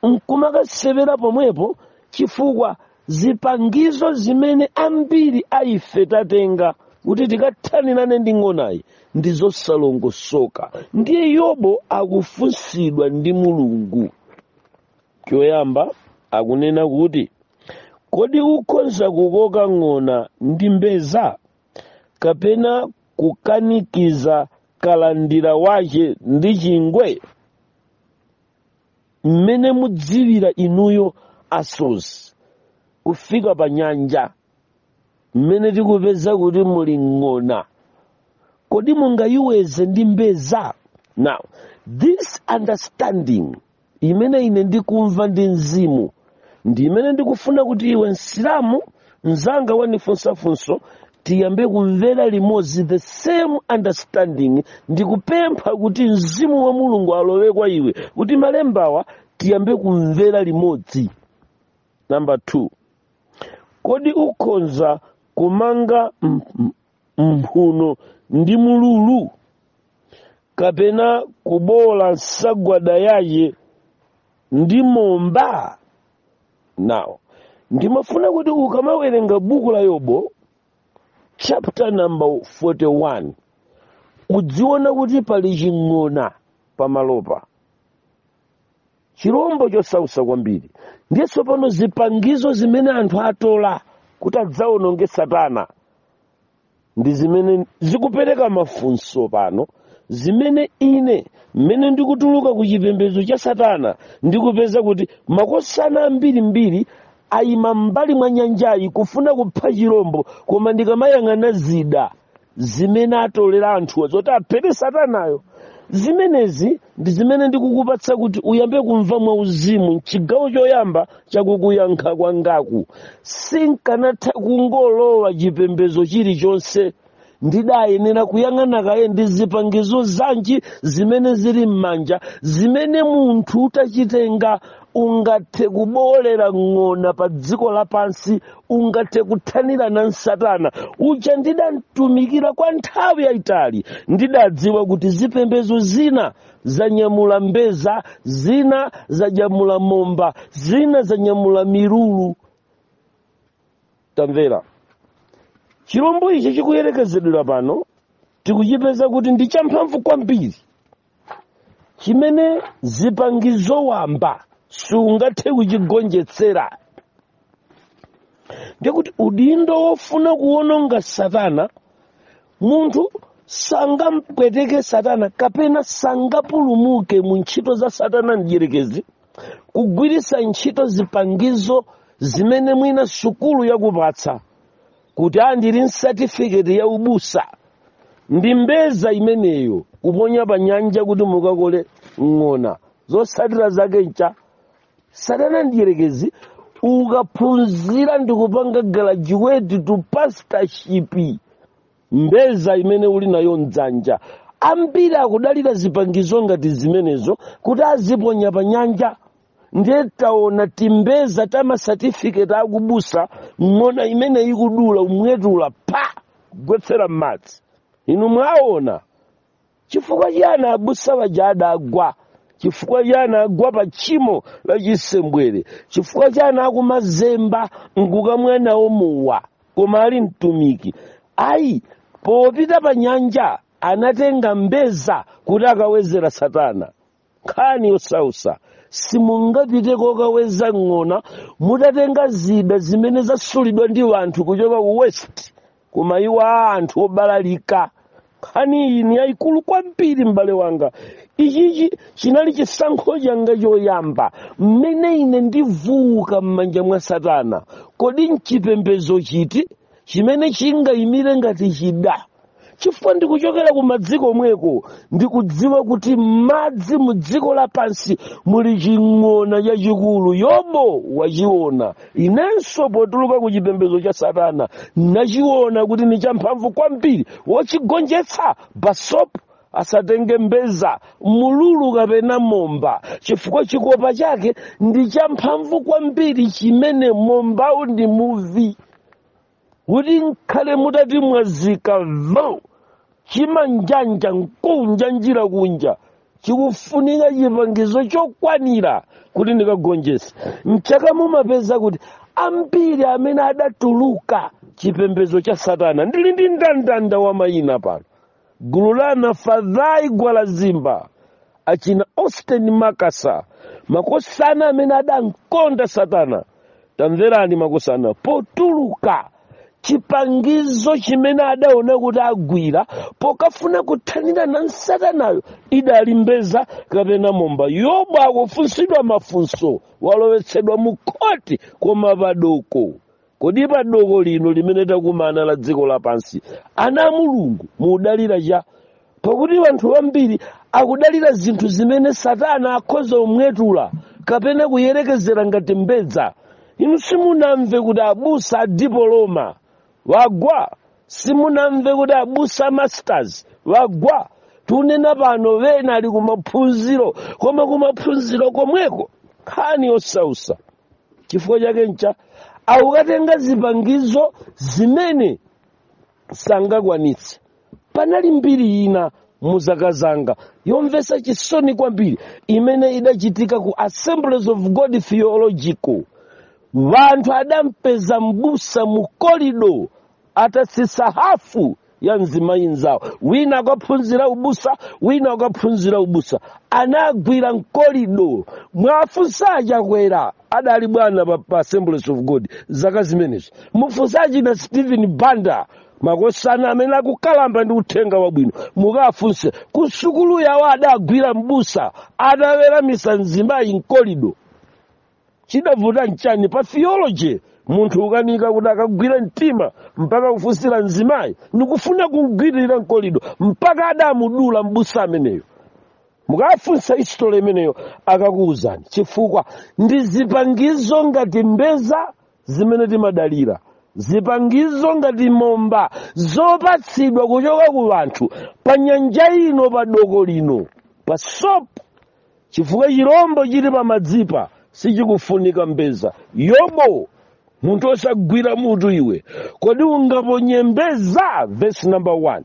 [SPEAKER 1] nkumakasewera pomwepo chifukwa zipangizo zimene ambiri a ife tatenga kuti tikathanirane ndi ng'onayi ndi zosalongosoka ndiye yobo akufunsidwa ndi mulungu choyamba akunena kuti kodi ukhoza kukoka ng'ona ndi mbedza kapena kukanikiza kalandira wace ndi chingwe mmene mudziwira inuyo asodzi kufika pa nyanja mmene tikupeza kuti muli ng'ona kodi mungayiwedze ndi mbedza now this understanding imene ine ndikumva ndi mzimu ndi imene ndikufuna kuti iwe msilamu mzanga wandifunsa funso tiyambe kumvera limodzi the same understanding ndikupempha kuti mzimu wa mulungu alowe kwa iwe kuti malembawa tiyambe kumvera limodzi namba 2 kodi ukhonza kumanga m- m- mphuno ndi mlulu kapena kuboola nsagwada yace ndi mbedza now ndimafuna kuti ukamawerenga buku la yobo chapter number 41 udziona kuti pali ching'ona pamalopa chirombo chosausa kwambiri ndiye tsopano zipangizo zimene anthu atola kuti adzawononge satana ndi zimene zikupereka mafunso pano zimene ine mmene ndikutuluka ku chipembedzo cha satana ndikupeza kuti makosana ambirimbiri ayima m'mbali mwa nyanjayi kufuna kupha chirombo koma ndikamayang'ana zida zimene atolera anthuwa zoti aphere satanayo zimenezi ndi zimene ndikukupatsa kuti uyambe kumva mwauzimu mchigawo choyamba chakukuyankha kwangaku sinkanatha kungolowa chipembedzo chilichonse ndidayenera kuyang'ana kaye ndi zipangizo zanji zimene zili m'manja zimene munthu utachitenga ungathe kuboolera ng'ona pa dziko lapansi ungathe kuthanirana nsatana uja ndidamtumikira kwa nthawi yayitali ndidadziwa kuti zipembedzo zina zanyamula mbeza zina zanyamula momba zina zanyamula milulu tamvera chilombo ichi chikuyerekezedwera pano tikuchipeza kuti ndi champhamvu kwambiri chimene zipangizo wamba sungathe kuchigonjetsera ndikuti udindo wofuna kuwononga satana munthu sangampweteke satana kapena sangapulumuke mu ntchito za satana mdyerekezi kugwiritsa ntchito zipangizo zimene mwina sukulu yakupatsa kuti a ndili nsatifiketi ya ubusa ndi mbeza imeneyo kuponya pa nyanja kuti mukakole ng'ona zotsatira zake ncha satana mdyerekezi ukaphunzira ndi kupanga graduate to pastorship mbeza imene uli nayo mdzanja ambiri akudalira zipangizo ngati zimenezo kuti aziponya pa nyanja ndiye taona timbeza ta masatifiketi akubusa ng'ona imeneyi kudula kumwetula pa kugwetsera m'madzi inu mwaona chifukwa chiyani abusa aja adagwa chifukwa chiyani agwa pa tchimo la chisembwere chifukwa chiyani akumazemba nkukamwa nawo mowa koma ali mtumiki ayi popita pa nyanja anatenga mbeza kuti akawezera satana nkhani yosausa simungapite kokaweza ng'ona mutatenga zida zimene zasulidwa ndi anthu kuchoka ku west kumayiko a anthu obalalika nkhani iyi ni yayikulu kwambiri m'bale wanga ichichi chinali chisankho changa choyamba mmene ine ndivuuka m'manja mwa satana kodi nchipembedzo chiti chimene chingayimire ngati chida chifukwa ndikuchokera ku madzi komweko ndikudziwa kuti m'madzi mu dziko lapansi muli ching'ona chachikulu yobu wachiona inenso potuluka ku chipembedzo cha satana nachiona kuti ni champhamvu kwambiri wochigonjetsa basopo asatenge mbeza mululu kapena momba chifukwa chikopa chake ndi champhamvu kwambiri chimene mombawu ndi muvi kuti nkhale mutati mwazika va chimanjanja nkunja njira kunja chikufunika chipangizo chokwanira kuti ndikagonjese mchaka mumapeza kuti ambiri amene adatuluka chipembedzo cha satana ndili ndi ndandanda wa mayina pano gulu la nafadhai gwalazimba achina austin makasa makosana amene adankonda satana tamverani makosana potuluka chipangizo chimene adaona kuti agwira pokafuna kuthanirana nsatanayo idali mbeza kapena momba yobu akufunsidwa mafunso walowetsedwa mu khoti koma padoko kodi pa doko lino limene takumana la dziko lapansi ana a mulungu mudalira cha pakuti anthu ambiri akudalira zinthu zimene satana akhoza kumwetula kapena kuyerekezera ngati mbedza inu simunamve kuti abusa a dipoloma wagwa simunamve kuti abusa a masters wagwa tunena pano wena ali kumaphunziro koma kumaphunziro komweko nkhani yosausa chifukwa chake ncha akukatenga zipangizo zimene sangakwanitse panali mbiri ina mu zaka zanga yomvetsa chisoni kwambiri imene idachitika ku assemblies of god theological wanthu adampeza mbusa mu korido atatsitsa hafu ya mzimayi mzawo wina akaphunzira ubusa wina akaphunzira ubusa anagwira mkolido mwafunsa achakwera adali bwana pa assemblies of god zaka zimenezo mufunsa achina stephen banda makosana amene akukalamba ndi uthenga wabwino mukafunse kusukulu yawo adagwira mbusa ataweramitsa mzimayi mkolido chidavuta nchani pa theology munthu ukanika kuti akagwire mtima mpaka kufunsira mzimayi ndikufuna kumgwiririra mkolido mpaka adamudula mbusa ameneyo mukafunsa history imeneyo akakuwuzani chifukwa ndi zipangizo ngati mbeza zimene timadalira zipangizo ngati momba zopatsidwa kuchoka ku anthu pa nyanja ino pa doko lino pa sopo chifukwa chirombo chili pamadzipa sichikufunika mbeza yobo munthu osagwira mutu iwe kodi ungaponye mbeza vesi namba 1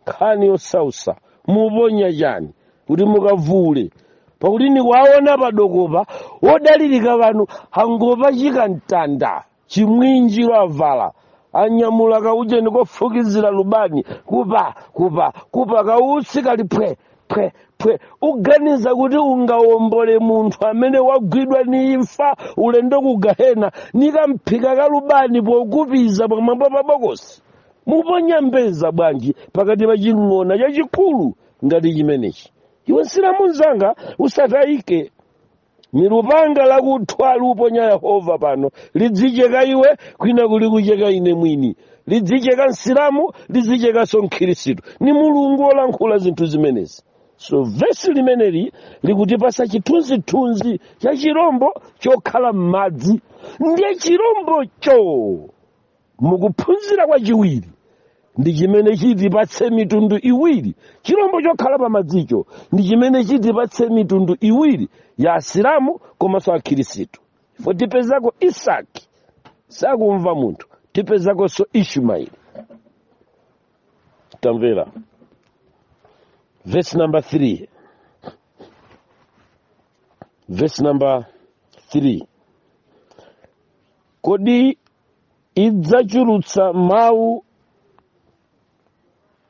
[SPEAKER 1] nkhani yosausa muponya chani kuti mukavuule pakuti ndikuwaona padokopa odalirika wanu angopachika mtanda chimwinjiro avala anyamula kaujeni kofukizira lubani kupa kupa kupa kautsi kali phwe phwe phwe uganiza kuti ungawombole munthu amene wagwidwa ni imfa ulendo ku gahena nikamphika kalubani pokupiza pamwamba pa bokosi muponya mbeza bwanji pakati pa ching'ona chachikulu ngati chimenechi iwe msilamu mzanga usatayike ni lupanga lakuthwa luponya yehova pano lidzicheka iwe kwina kuli kucheka ine mwini lidzicheka msilamu lidzichekanso mkhirisitu ni mulungu olankhula zinthu zimenezi so vesi limeneli likutipasa chithunzithunzi cha chirombo chokhala m'madzi ndiye chirombocho mukuphunzira kwachiwiri ndi chimene chitipatse mitundu iwiri chilombo chokhala pamadzicho ndi chimene chitipatse mitundu iwiri ya asilamu komanso akhirisitu ife tipezako isaki sakumva munthu tipezakonso ishumaili tamvera verse number 3 verse number 3 kodi idzachulutsa mawu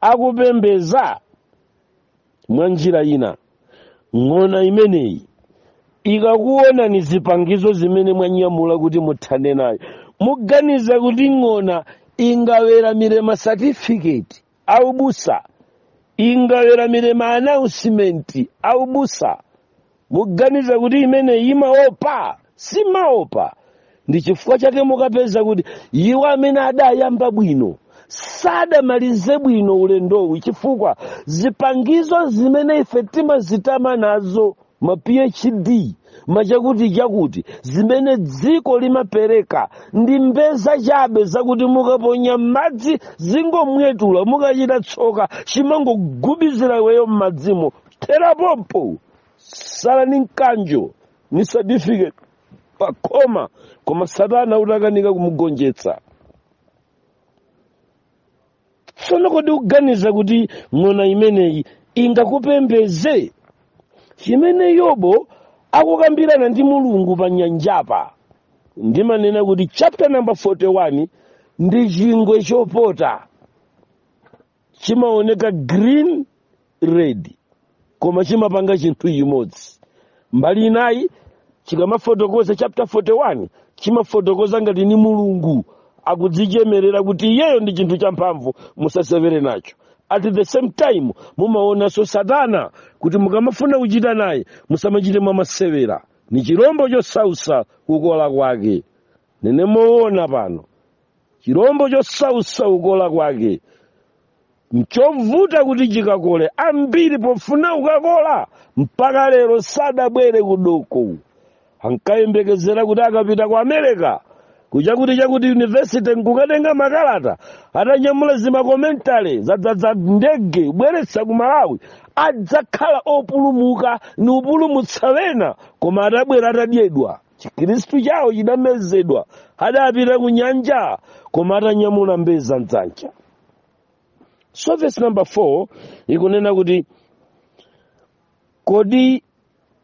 [SPEAKER 1] akupembeza mwa njira ina ng'ona imeneyi ikakuona ni zipangizo zimene mwanyamula kuti muthane nayo muganiza kuti ng'ona ingaweramire masatifiketi aubusa ingaweramire maanaunsimenti aubusa muganiza kuti imene imaopa simaopa ndi chifukwa chake mukapeza kuti iwo amene adayamba bwino sadamalize bwino ulendowu chifukwa zipangizo zimene ife timazitama nazo ma phd machakuti chakuti zimene dziko limapereka ndi mbeza chabe zakuti mukaponya m'madzi zingomwetula mukachita tsoka chimangogubizira iweyo m'madzimo thera pompo tsala ni mkanjo ni certificate pakhoma koma satana utakanika kumugonjetsa tsono kodi uganiza kuti ng'ona imeneyi ingakupembeze chimene yobo akukambirana ndi mulungu pa nyanjapa ndimanena kuti chapter number 41 ndi chingwe chopota chimaoneka green red koma chimapanga chinthu chimodzi mbali inayi chikamafotokoza chapter 41 chimafotokoza ngati ni mulungu akudzichemerera kuti iyeyo ndi chinthu champhamvu musasewere nacho at the same time mumaonanso satana kuti mukamafuna kuchita naye musamachite mwamasewera ni chirombo chosausa kukola kwake nene moona pano chirombo chosausa kukola kwake nchovuta kuti chikakole ambiri pofuna kukakola mpaka lero sadabwere kudoko ankayembekezera kuti akapita ku america kuchakuti chakuti yunivesite nkukatenga makalata atanyamula zimakomentale zodzadza ndege kubweretsa ku malawi adzakhala opulumuka ni upulumutsa wena koma atabwera atadyedwa chikristu chawo chidamezedwa adapita ku nyanja koma atanyamula mbeza mdzanja so verse number 4 ikunena kuti kodi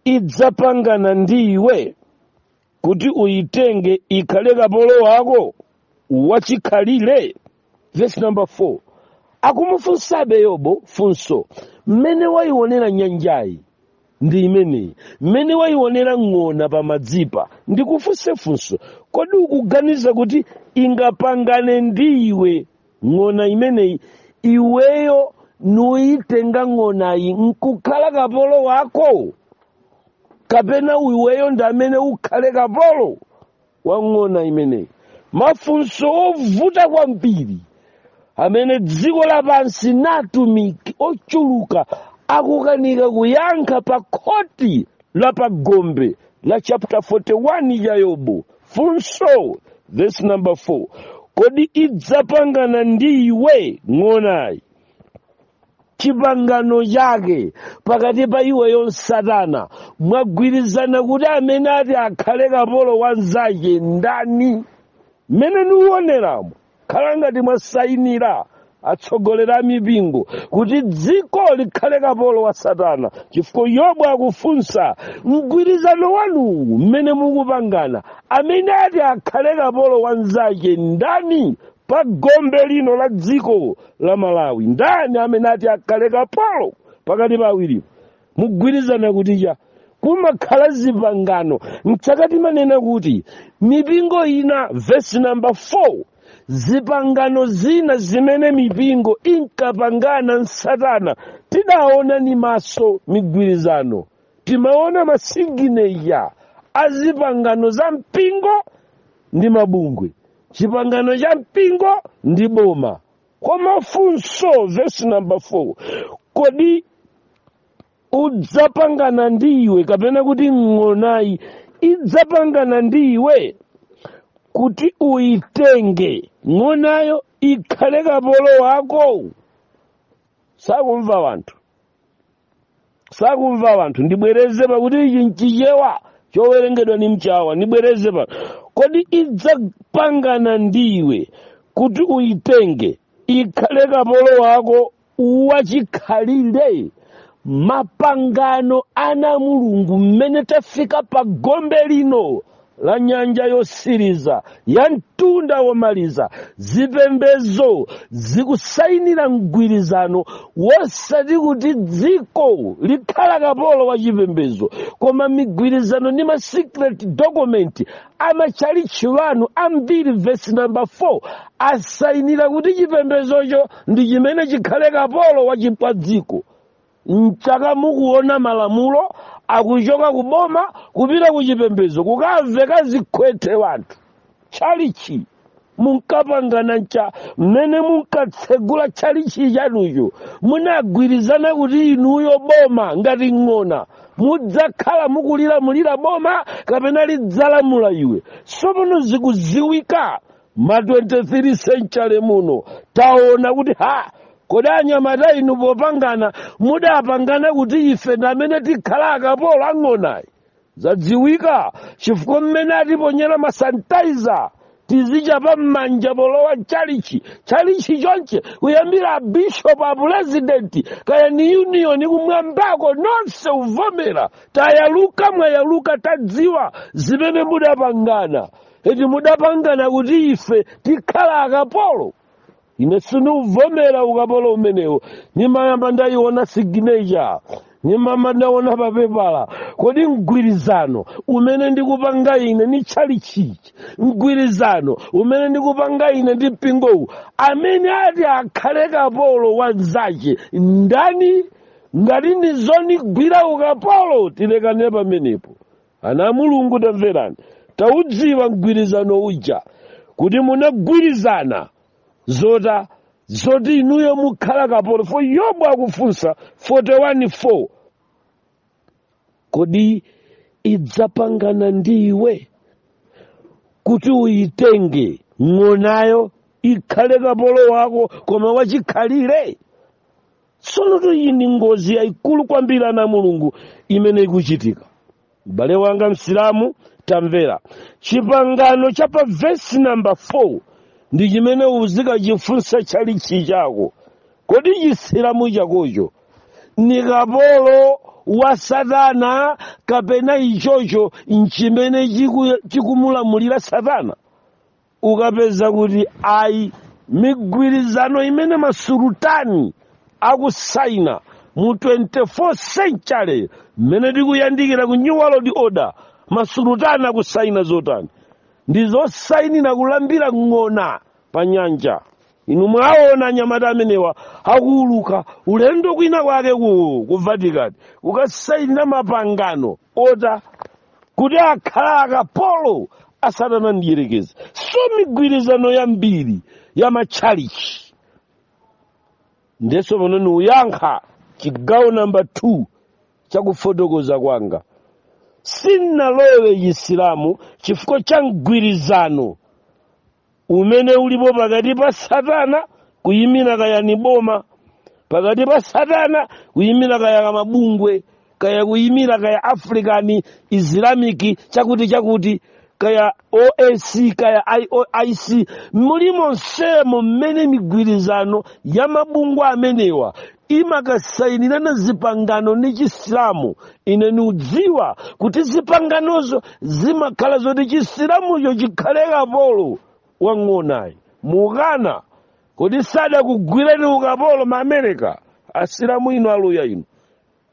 [SPEAKER 1] idzapangana ndi iwe kuti uyitenge ikhale kapolo wako wachikhalire verse number 4 akumufunsabe yobo funso mmene wayionera nyanjayi ndi imeneyi mmene wayionera ng'ona pamadzipa ndikufunse funso kodi ukuganiza kuti ingapangane ndi iwe ng'ona imeneyi iweyo nuyitenga ng'onayi nkukhala kapolo wako kapena iweyo ndi amene ukhale kapolo wa ng'ona imeneyi mafunso ovuta kwambiri amene dziko lapansi natumiki ochuluka akukanika kuyankha pa khoti la pagombe la chapter 41 ya yobo funso verse number 4 kodi idzapangana ndi iwe ng'onayi chipangano chake pakati pa iweyo nsatana mwagwirizana kuti amene ati akhale kapolo wanzache ndani mmene niuoneramo khala ngati mwasayinira atsogoleri a mipingo kuti dziko likhale kapolo wa satana chifukwa yobo akufunsa mgwirizano wanuwu mmene mukupangana amene ati akhale kapolo wa nzake ndani pa gombe lino la dziko la malawi ndani amene ati akhale kapolo pakati pa awiriwo mugwirizana kuti cha kumakhala zipangano nsaka timanena kuti mipingo ina vesi namba 4 zipangano zina zimene mipingo inkapangana nsatana tidaona ni maso migwirizano timaona masigineya a zipangano za mpingo ndi mabungwe chipangano cha mpingo ndi boma koma funso vesi namba 4 kodi udzapangana ndi iwe kapena kuti ng'onayi idzapangana ndi iwe kuti uyitenge ng'onayo ikhale kapolo wako sakumva wanthu sakumva wanthu ndibwereze pakuti ichi nchichewa chowerengedwa ni mchawa ndibwereze wanthu kodi idzapangana ndiwe kuti uyitenge ikhale kapolo wako wachikhalire mapangano ana mulungu mmene tafika pa gombe lino la nyanja yosiriza ya mtunda womaliza zipembezo zikusayinira mgwirizano wosati kuti dziko likhala kapolo wa chipembezo koma migwirizano ndi ma secret document amatchalitchi wanu ambiri vesi namba 4 asayinira kuti chipembezocho ndi chimene chikhale kapolo wa chi- wa dziko nchake mukuona malamulo akuchoka ku boma kupita ku chipembedzo kukamveka zikhwethe wanthu tchalichi munkapangana ncha mmene munkatsegula tchalichi chanucho munagwirizana kuti inuyo boma ngati ng'ona mudzakhala mukulilamulira boma kapena lidzalamula iwe sopono zikuziwika ma 23 century muno taona kuti ha kodi anyamata inu popangana mudapangana kuti ife ndamene tikhala akapolo ang'onayi zadziwika chifukwa mmene atiponyera masantaiza tizichapa mmanja polowa chalichi chalichi chonche kuyambira abishopu a purezidenti kaya ni union kumwambako nonse uvomera tayaluka mwayaluka tadziwa zimene mudapangana eti mudapangana kuti ife tikhala akapolo ine sindikuvomera ukapolo umenewo nimayamba ndayiona signature nimayamba ndaona papepala kodi mgwirizano umene ndikupanga ine ni tchalichichi mgwirizano umene ndikupanga ine ndi mpingowu amene ati akhale kapolo wa mzache ndani ngati ndizonigwira ukapolo tilekane pamenepo ana a mulungu tamverani taudziwa mgwirizano uja kuti munagwirizana zota zoti inuyo mukhala kapolo fo yobu akufunsa 41:4 kodi idzapangana ndi iwe kuti uyitenge ng'onayo ikhale kapolo wako koma wachikhalire tsonotu iyi ndi ngozi yayikulu kwambiri ana a mulungu imene ikuchitika m'bale wanga msilamu tamvera chipangano cha pa vesi namba 4 ndi chimene uzikachifunsa chalichi chako kodi chisilamu chakocho ni kapolo wa satana kapena ichocho nchimene chiku- chikumulamulira satana ukapeza kuti ayi migwirizano imene masulutani akusaina mu 24 century mmene tikuyandikira ku new world order masulutani akusaina zotani ndi zosainira kulambira ng'ona pa nyanja inu mwaona anyamata amenewa akuuluka ulendo kwina kwake ku, ku vatican kukasainira mapangano oti kuti akhale akapolo a satana mdyerekezi so migwirizano yambiri ya matchalichi ndeso pano niuyankha chigawo namba 2 chakufotokoza kwanga sinalowe chisilamu chifukwa cha mgwirizano umene ulipo pakati pa satana kuyimira kaya ni boma pakati pa satana kuyimira kaya mabungwe kaya kuyimira kaya african islamic chakuti chakuti kaya oac kaya ioic mulimonsemo mmene migwirizano ya mabungwe amenewa imakasainirana zipangano ndi chisilamu ine niudziwa kuti zipanganozo zimakhala zoti chisilamucho chikhale kapolo wang'onayi muukana kodi sadakugwireni ukapolo ma america asilamu inu aluya inu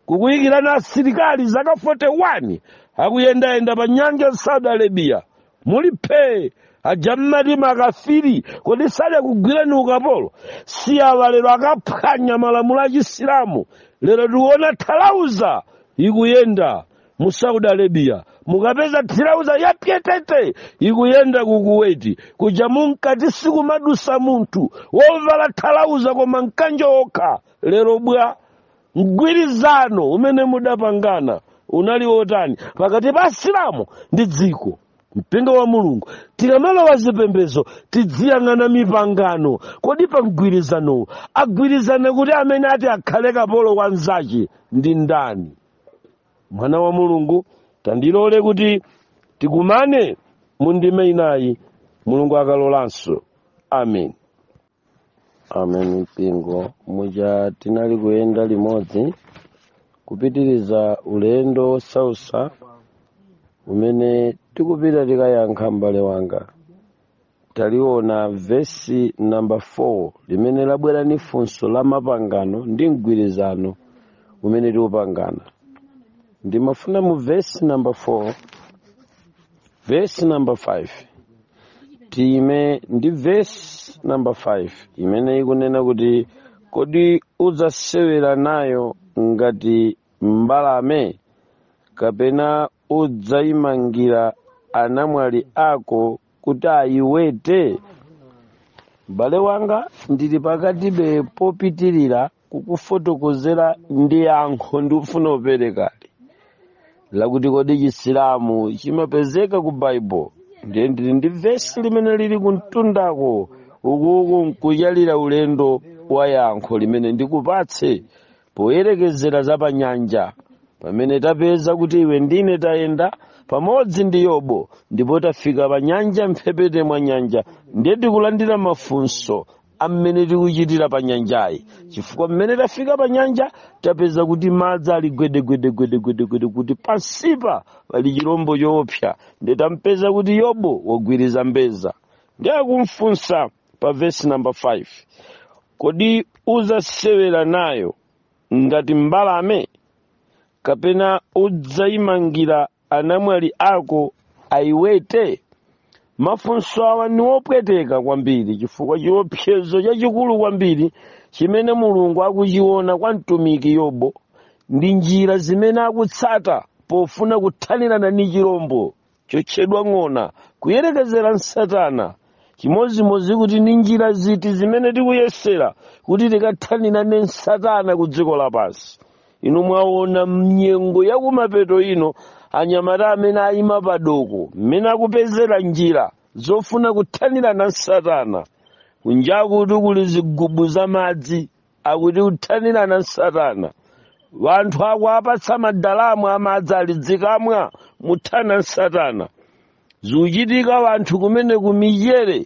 [SPEAKER 1] kukuyikirani asilikali zaka 41 akuyendayenda pa nyanja ya saudi arabia muli phee aja mmati makafiri kodi sadakugwireni ukapolo si awa lero akaphwanya malamulo a chisilamu lero tiuona thalauza ikuyenda mu saudi arabia mukapeza thalauza ya pyetete ikuyenda ku kuweti kuja munkati sikumadusa munthu wovala thalauza koma mkanjo okha lero bwa mgwirizano umene mudapangana unali wotani pakati pa asilamu ndi dziko mpingo wa mulungu tikamalowa zipembedzo tidziyang'ana mipangano kodi pa mgwirizanowu agwirizana kuti amene ati akhale kapolo wa nzache ndi ndani mwana wa mulungu tandilole kuti tikumane mu ndime inayi mulungu akalolanso amen amen mpingo muja tinali kuyenda limodzi kupitiriza ulendo wosausa umene tikupita tikayankha m'bale wanga taliona vesi namba 4 limene labwera ni funso la mapangano ndi mgwirizano umene tikupangana ndimafuna mu vesi namba 4 vesi namba 5 tiime ndi vesi namba 5 imene ikunena kuti kodi udzasewera nayo ngati mbalame kapena udzayimangira anamwali ako kuti ayiwete m'bale wanga ndili pakatibe popitirira kukufotokozera ndi yankho ndikufuna uperekali lakuti kodi chisilamu chimapezeka ku baibulo ndiye ndili ndi vesi limene lili kumtundako ukuku nkuyalira ulendo wa yankho limene ndikupatse poyerekezera za pa nyanja pamene tapeza kuti iwe ndine tayenda pamodzi ndi yobo ndipo tafika pa nyanja mphepete mwa nyanja ndiye tikulandira mafunso amene tikuchitira pa nyanjayi chifukwa mmene tafika pa nyanja tapeza kuti madzi ali gwedegwedegwedegwedegwede kuti pansipa pali chilombo choopsa ndiye tampeza kuti yobo wagwiriza mbeza ndiye akumfunsa pa vesi namba 5 kodi udzasewera nayo ngati mbalame kapena udzayimangira anamwali ako ayiwete mafunso awa ni opweteka kwambiri chifukwa chiopsezo chachikulu kwambiri chimene mulungu akuchiona kwa mtumiki yobo ndi njira zimene akutsata pofuna kuthanirana ni chirombo chotchedwa ng'ona kuyerekezera nsatana chimodzimodzi kuti ni njira ziti zimene tikuyesera kuti tikathanirane nsatana ku dziko lapansi inu mwaona mnyengo yakumapeto ino anyamata amene ayima padoko mmene akupezera njira zofuna kuthanirana nsatana kunjakutu kuli zigubu za madzi akuti kuthanirana nsatana wanthu akuapatsa madiramu amadzi ali dzikamwa muthana nsatana zikuchitika wanthu kumene kumichere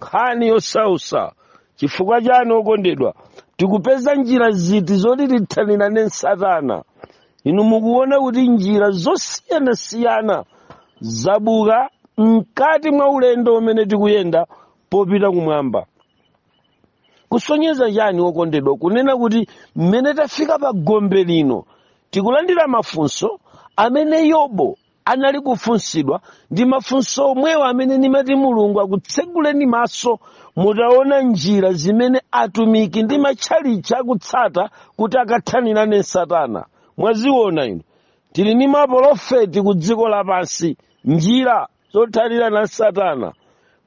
[SPEAKER 1] nkhani yosausa chifukwa chani okondedwa tikupeza njira ziti zoti tithanirane ndi satana inu mukuona kuti njira zosiyanasiyana zabuka mkati mwa ulendo umene tikuyenda popita kumwamba kusonyeza chani okondedwa kunena kuti mmene tafika pa gombe lino tikulandira mafunso amene yobo anali kufunsidwa ndi mafunso omwewo amene ndimati mulungu akutseguleni maso mutaona njira zimene atumiki ndi matchalitchi akutsata kuti akathanire na satana mwaziona inu tili ndi mapolofeti ku dziko lapansi njira zothanira na satana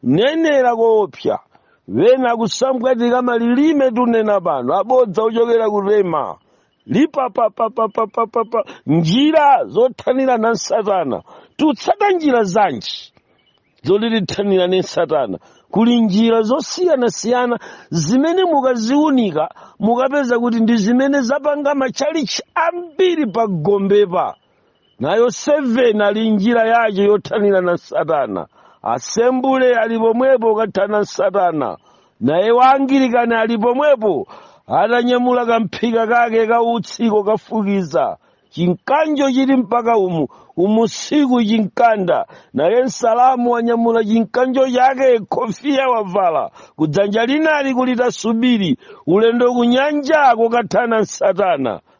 [SPEAKER 1] nenera koopsa wena kusambwatika malilime tunena pano abodza ochokera ku rema lipapapapapapapa njira zothanirana ndi satana tikutsata njira zanji zoti tithanirane ndi satana kuli njira zosiyanasiyana zimene mukaziunika mukapeza kuti ndi zimene zapanga matchalichi ambiri pa gombepa nayo 7 ali njira yace yothanira na satana asembule ali pomwepo kuthana na satana naye waangilikani ali pomwepo atanyamula kamphika kake kautsi kokafukiza chimkanjo chili mpaka umu umu siku chimkanda naye msilamu wanyamula chimkanjo chake kofiya wavala kudzanja linali kuli tasubiri ulendo kunyanja kokathana na satana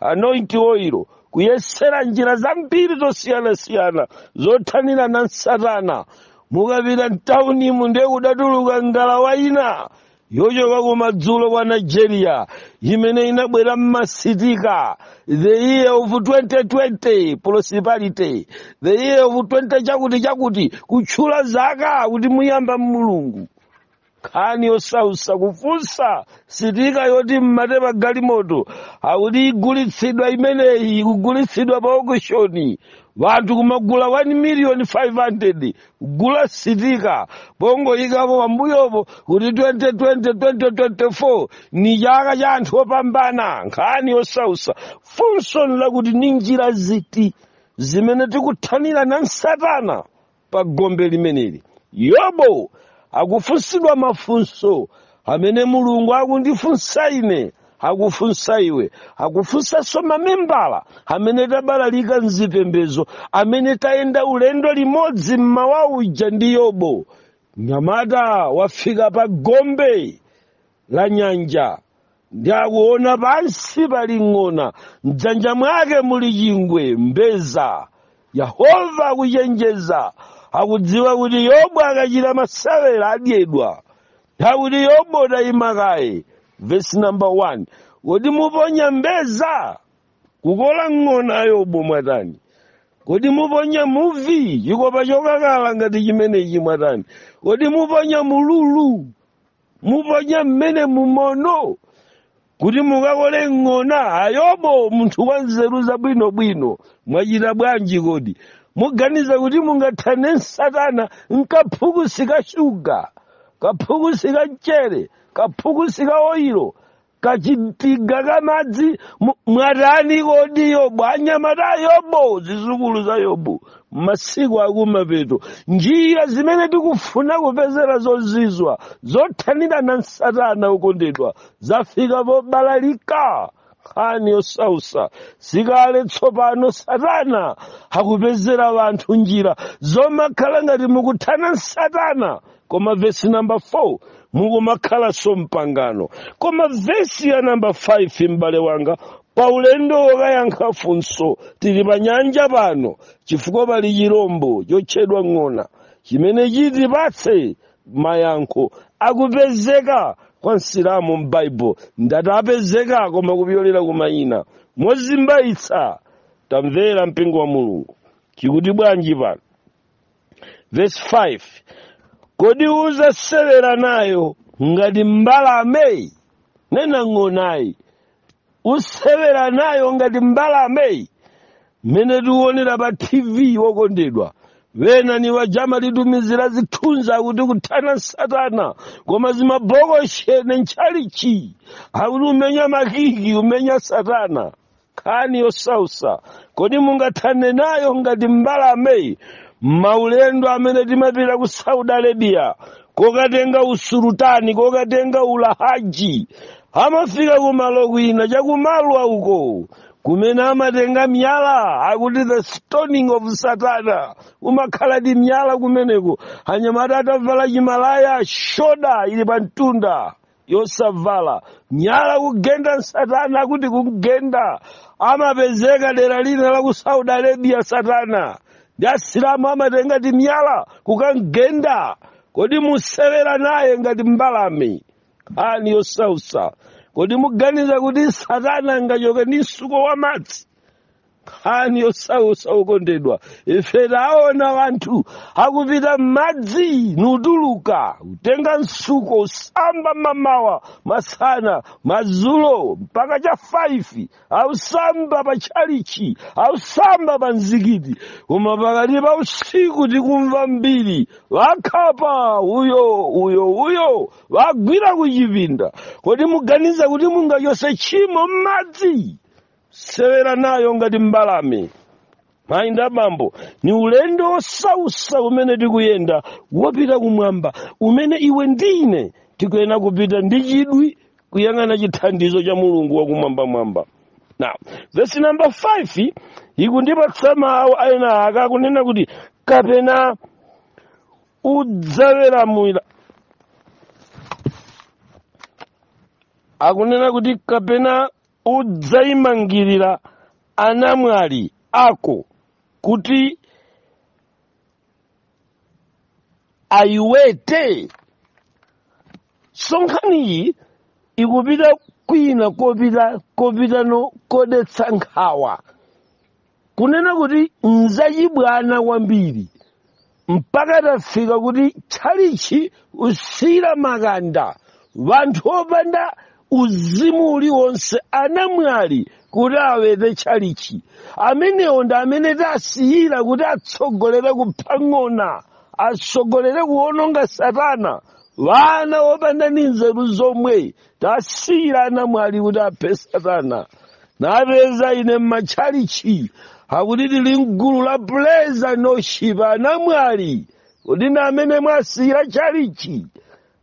[SPEAKER 1] anoint oil kuyesera njira zambiri zosiyanasiyana zothanira na satana mukapita mtaunimu ndiye kudatuluka ngalawa ina yochoka kumadzulo kwa nigeria imene inabwera ni masitika the year of 2020 prosperity the year of 20 chakuti chakuti kutchula zaka kuti muyamba mulungu nkhani yosausa kufunsa sitika yoti mmate pa galimoto akuti igulitsidwa imeneyi ikugulitsidwa pa okishoni wanthu kumagula 1 miliyoni 500 kugula sitika pongoyikapo pambuyopo kuti 2020 2024 ni chaka cha anthu opambana nkhani yosausa funso ni lakuti ni njira ziti zimene tikuthanira na satana pa gombe limeneli yobo akufunsidwa mafunso amene mulungu akundifunsa ine akufunsa iwe akufunsanso mamembala amene tabalalika mzipembedzo amene tayenda ulendo limodzi mmawa uja ndi yobo mnyamata wafika pa gombe la nyanja nde akuona pansi pali ng'ona mdzanja mwake muli chingwe mbedza yehova akuchenjeza akudziwa kuti yobo akachita masewera adyedwa nde akuti yobo tayima kaye vesi namba 1 kodi muponya mbedza kukola ng'ona yobo mwatani kodi muponya muvi chikopa chokakala ngati chimenechi mwatani kodi muponya mululu muponya mmenemu mono kuti mukakole ng'ona a Yobu munthu wa nzeru zabwinobwino mwachita bwanji kodi muganiza kuti mungathane nsatana nkaphukusi ka shuga kaphukusi ka mchere kaphukusi ka oyiro kachigubu ka madzi mwatani kodi yobu anyamata a yobu zizukulu za yobu masiku akumapeto njira zimene tikufuna kupezera zozizwa zothanirana nsatana okondedwa zafika pobalalika nkhani yosausa si kale tsopano satana akupezera wanthu njira zomakhala ngati mukuthana nsatana koma vesi namba 4 mukumakhalanso m'pangano koma vesi ya namba 5 m'bale wanga pa ulendo wokayankha funso tili pa nyanja pano chifukwa pali chirombo chotchedwa ng'ona chimene chitipatse mayankho akupezeka kwa msilamu m'baibulo ndatapezeka koma kupyolera kumayina mozimbayitsa tamvera mpingo wa mulungu chikuti bwanji pano vesi 5 kodi uzasewera nayo ngati mbalame nena ng'onayi usewera nayo ngati mbalame mmene tiwonera pa tv wokondedwa wena ni wajama litumizira zithunzi akuti kuthana nsatana koma zimabokosheni ntchalichi akuti umenya makiki umenya satana nkhani yosausa kodi mungathane nayo ngati mbalame maulendo amene timapita ku saudi arabia kokatenga usulutani kokatenga ulahaji amafika kumalo kwina chakumalwa uko kumene amatenga miyala akuti the stoning of satana umakhala ndi miyala kumeneko anyamata atavala chimalaya shoda ili pa mtunda yosavala miyala kugenda satana akuti kumgenda amapezeka dera lina la ku saudi arabia satana ndi asilamu amatenga timiyala kukamgenda kodi musewera naye ngati mbalame nkhani yosausa kodi muganiza kuti satana angachoke ndi msuko wa madzi nkhani yosausa okondedwa ife taona wanthu akupita m'madzi nutuluka utenga msuko usamba mamawa masana madzulo mpaka cha 5 ausamba pa tchalichi ausamba pa mzikiti koma pakati pa usiku tikumva mbiri wakhapa uyo uyo uyo wagwira kuchipinda kodi muganiza kuti mungachose tchimo m'madzi sewera nayo ngati mbalame mayi ndi abambo ni ulendo wosausa umene tikuyenda wopita kumwamba umene iwe ndine tikuyenera kupita ndi chidwi kuyang'ana chithandizo cha mulungu wakumwambamwamba now vesi namba 5 ikundipatsa mawu aena aka akunena kuti kapena udzaweramira akunena kuti kapena udzaimangirira anamwali ako kuti ayiwete so nkhaniyi ikupita kwina kopitano kodetsa nkhawa kunena kuti nzachibwana kwambiri mpaka tafika kuti tchalichi usira makanda wanthu opanda uzimu uliwonse anamwali kuti awete tchalichi amenewo ndi amene tasiyira kuti atsogolere kuphang'ona atsogolere kuwononga satana wana opanda ndi nzeru zomwe tasiyira anamwali kuti aphe satana napeza ine m'matchalichi akuti tili mgulu la praise and worship anamwali kuti ndi amene mwasiyira tchalichi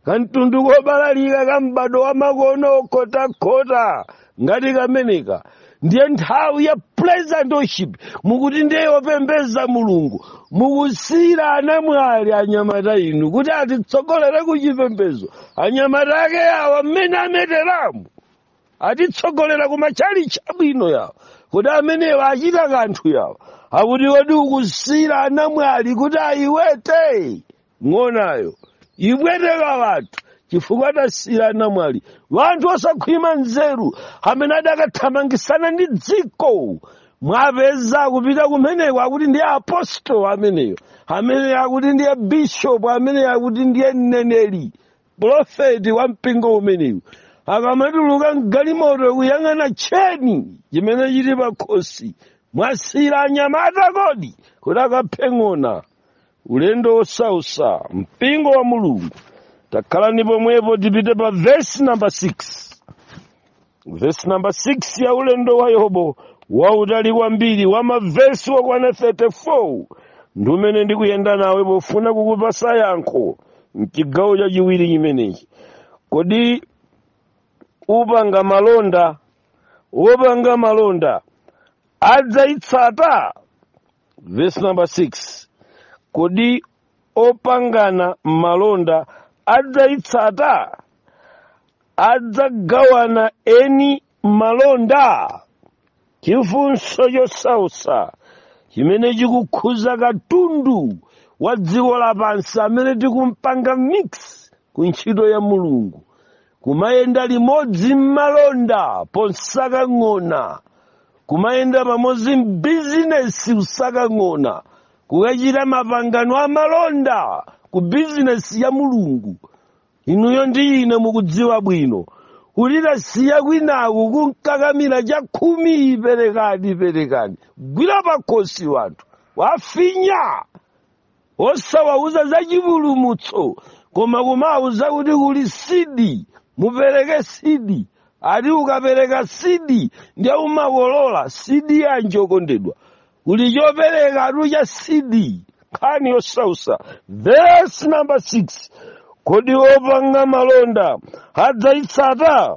[SPEAKER 1] kamtundu kobalalika ka m'bado wa makono okhotakhota ngati kameneka ndiye nthawi ya praise and worship mukuti ndiye yopembeza mulungu mukusiyira anamwali anyamata inu kuti atitsogolere ku chipembedzo anyamata ake awa mmene ameteramu atitsogolera ku matchalichi abwino yawo kuti amenewa achita kanthu yawo akuti kodi ukusiyira anamwali kuti ayiwete ng'onayo ibweteka wanthu chifukwa tasiyira anamwali wanthu osakhwima nzeru amene adakathamangisana ndi dziko mwapeza akupita kumeneko akuti ndiye apostolo ameneyo amene akuti ndiye bishopu amene akuti ndiye mneneri profeti wa mpingo umenewu akamatuluka mgalimoto kuyang'ana tcheni chimene chili pakhosi mwasiyira anyamata kodi kuti akaphe ng'ona ulendo wosausa mpingo wa mulungu takhalani pomwepo tipite pa vesi namba 6 vesi namba 6 ya ulendo wa yobo wautali kwambiri wa mavesi wakwana 34 ndi umene ndikuyenda nawe pofuna kukupasa yankho mchigawo chachiwiri chimenechi kodi wopanga malonda wopanga malonda adzayitsata verse number 6 kodi opangana malonda adzayitsata adzagawana eni malonda chifunso chosausa chimene chikukhuza katundu wa dziko lapansi amene tikumpanga mix ku ntchito ya mulungu kumayenda limodzi m'malonda ponsaka ng'ona kumayenda pamodzi m'bizinesi kusaka ng'ona kukachita mapangano a malonda ku bizinesi ya mulungu inuyo ndi ine mukudziwa bwino kuti tasiya kwinaku kunkakamira chakhumi perekani perekani gwira pakhosi wanthu wafinya osawauza za chipulumutso koma kumawauza kuti kuli sidi mupereke sidi ati ukapereka sidi ndiye umakolola sidi yanji okondedwa kuli choperekatu cha sidi nkhani yosausa verse number 6 kodi opanga malonda adzayitsata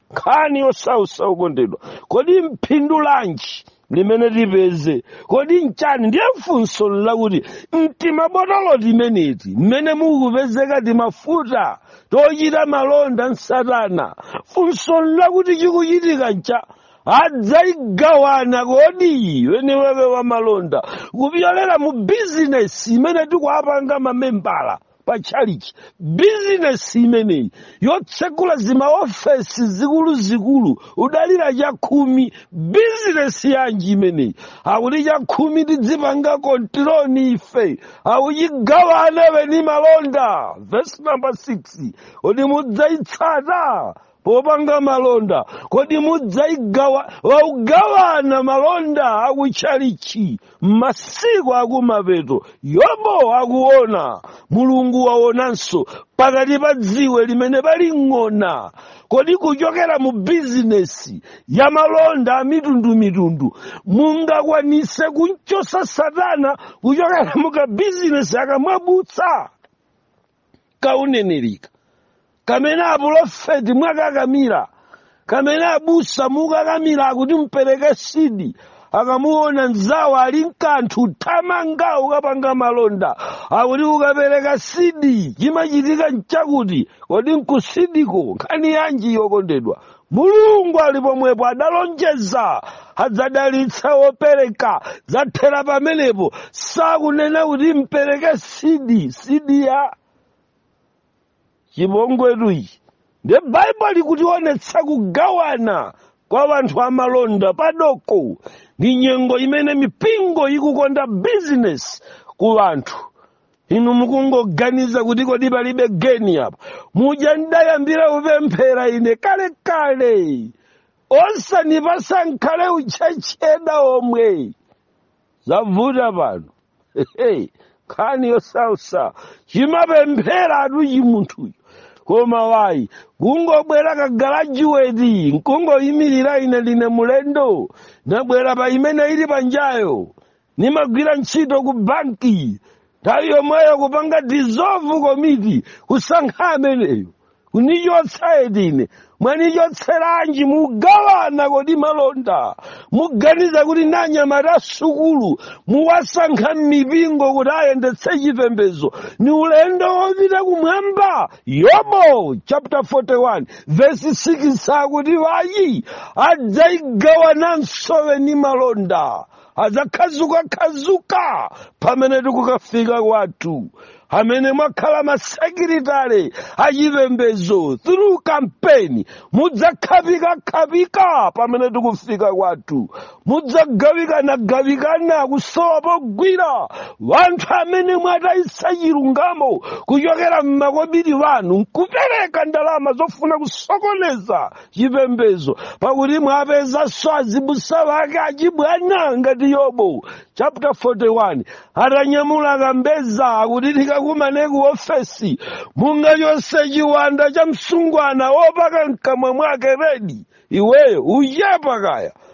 [SPEAKER 1] nkhani yosausa okondedwa kodi mphindu lanji limene tipeze kodi nchani ndiye funso nlakuti m'timabotolo timeneti mmene mukupezeka timafuta tochita malonda nsatana funso nlakuti chikuchitika ncha adzaigawana kodi weniwake wa malonda kupyolera mu bizinesi imene tikuapanga mamembala pa tchalichi bizinesi imeneyi yotsekula zimaofesi zikuluzikulu kudalira chakhumi bizinesi yanji imeneyi akuti chakhumi tidzipanga control ndi ife akuchigawana weni malonda vesi namba 6 kodi mudzayitsata popanga malonda kodi mudzaigawa waugawana malonda akutchalichi masiku akumapeto yobo akuona mulungu waonanso pakati pa dziwe limene pali ng'ona kodi kuchokera mu bizinesi ya malonda amitundumitundu mungakwanise kunchosa satana kuchokera mu kabizinesi aka mwabutsa kaunenerika kamene apulofeti mwakakamira kamene abusa mukakamira akuti mpereke sidi akamuona nzawo ali nkanthu thamanga ukapanga malonda akuti ukapereka sidi chimachitika nchakuti kodi nkusidiko nkhani yanji okondedwa mulungu ali pomwepo adalonjeza adzadalitsa wopereka zathera pamenepo sakunena kuti mpereke sidi sidi ya chipongwetu ichi nde baibulo likutiwonetsa kugawana kwa wanthu amalonda padoko ndi nyengo imene mipingo ikukonda bizinesi ku wanthu inu mukungoganiza kuti kodi palibe geni apa muja ndayambira kupemphera ine kale kale osanipasa nkhale uchurch elder omwe zavuta pano nkhani yosausa chimapemphera atu chimunthucho koma wayi kungobwera kagalajuweti nkungoyimirira ine ndine mulendo nabwera pa imene ili panjayo nimagwira ntchito ku banki nthawi yomweyo kupanga dissolve komiti kusankha ameneyo kunichotsa eti ine mwanichotseranji mugawana kodi malonda muganiza kuti nanyamata asukulu muwasankha m'mipingo kuti ayendetse chipembedzo ni ulendo wopita kumwamba yobo chapter 41 verse 6 akuti wayi adzaigawananso weni malonda adzakhazukakhazuka pamene tikukafika kwathu amene mwakhala masekiritale achipembedzo through kampeni mudzakhapikakhapika pamene tikufika kwathu mudzagawikanagawikana kusowa pogwira wanthu amene mwatayitsa chilungamo kuchokera m'makobiri wanu nkupereka ndalama zofuna kusokoneza chipembedzo pakuti mwapezanso azibusa wake achibwana ngati yobo chapter 41 atanyamula kambeza akuti tikakumane ku ofesi mungachose chiwanda cha msungwana wopaka mkamwa mwake redi iweyo uchepa kaya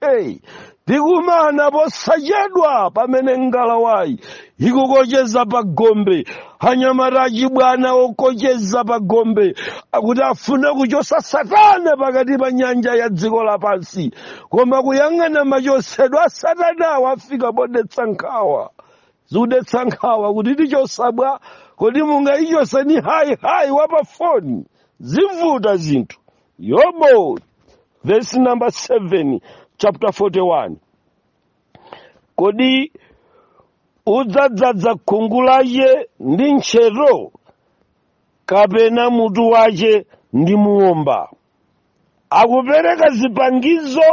[SPEAKER 1] Hey, tikumana posachedwa pamene ngalawayi ikukocheza pa gombe anyamata achibwana okocheza pa gombe akuti afuna kuchosa satana pakati pa nyanja ya dziko lapansi koma kuyang'ana machosedwa a satanawa afika podetsa nkhawa zikudetsa nkhawa kuti tichosa bwa kodi mungayichose ni hayi hayi wa pafoni zivuta zinthu Yobo, verse number 7, chapter 41. Kodi udzadzadza khungu lache ndi ntchetho kapena mutu wache ndi muomba? Akupereka zipangizo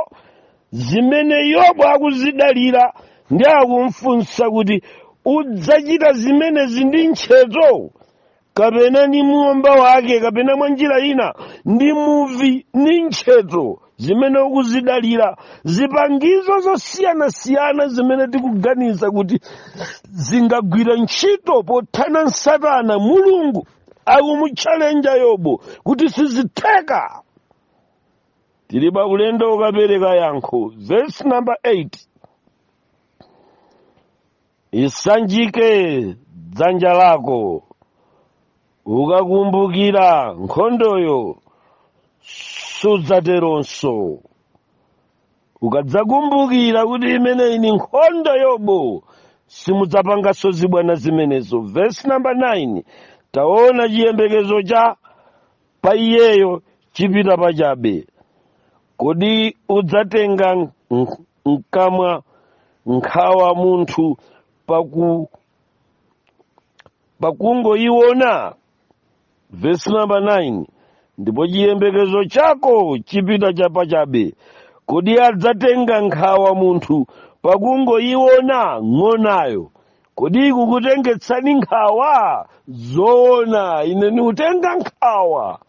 [SPEAKER 1] zimene Yobo akuzidalira ndi akumfunsa kuti udzachita zimenezi ndi ntchetho kapena ndi momba wake kapena mwa njira ina ndi muvi ndi ntcheto zimene ukuzidalira zipangizo zosiyanasiyana zimene tikuganiza kuti zingagwira ntchito pothana ndi satana mulungu akumutchalenja yobu kuti sizitheka tili pa ulendo wokapereka yankho verse number 8 isanjike dzanja lako ukakumbukira nkhondoyo sudzateronso ukadzakumbukira kuti imeneyi ni nkhondo yobu simudzapanganso zibwana zimenezo vesi namba 9 taona chiyembekezo cha pa iyeyo chipita pachabe kodi udzatenga nk- nk- mkamwa nkhawa munthu paku pakungoyiona vesi namba 9 ndipo chiyembekezo chako chipita pachabe kodi adzatenga nkhawa munthu pakungoyiona ng'onayo kodi ikukutengetsani nkhawa zoona ine ndikutenga nkhawa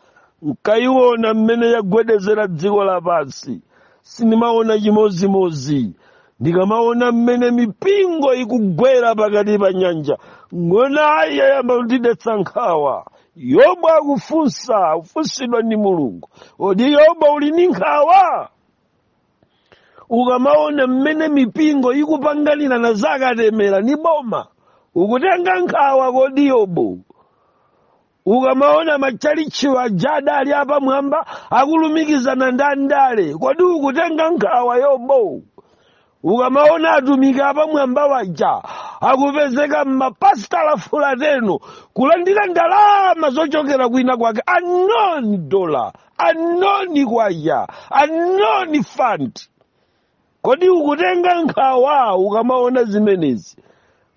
[SPEAKER 1] nkayiona mmene yagwedezera dziko lapansi sindimaona chimozimozi ndikamaona mmene mipingo ikugwera pakati pa nyanja ng'onayi yayamba kutidetsa nkhawa yobu akufunsa kufunsidwa ndi mulungu kodi yobu uli ndi nkhawa ukamaona mmene mipingo ikupanganirana zakatemera ni boma ukutenga nkhawa kodi yobu ukamaona matchalitchi aja adali apamwamba akulumikizana ndi andale kodi ukutenga nkhawa yobu ukamaona atumiki apamwamba waja akupezeka mmapasitala fulateno kulandira ndalama zochokera kwina kwake anoni dola anoni kwacha anoni fund kodi ukutenga nkhawa ukamaona zimenezi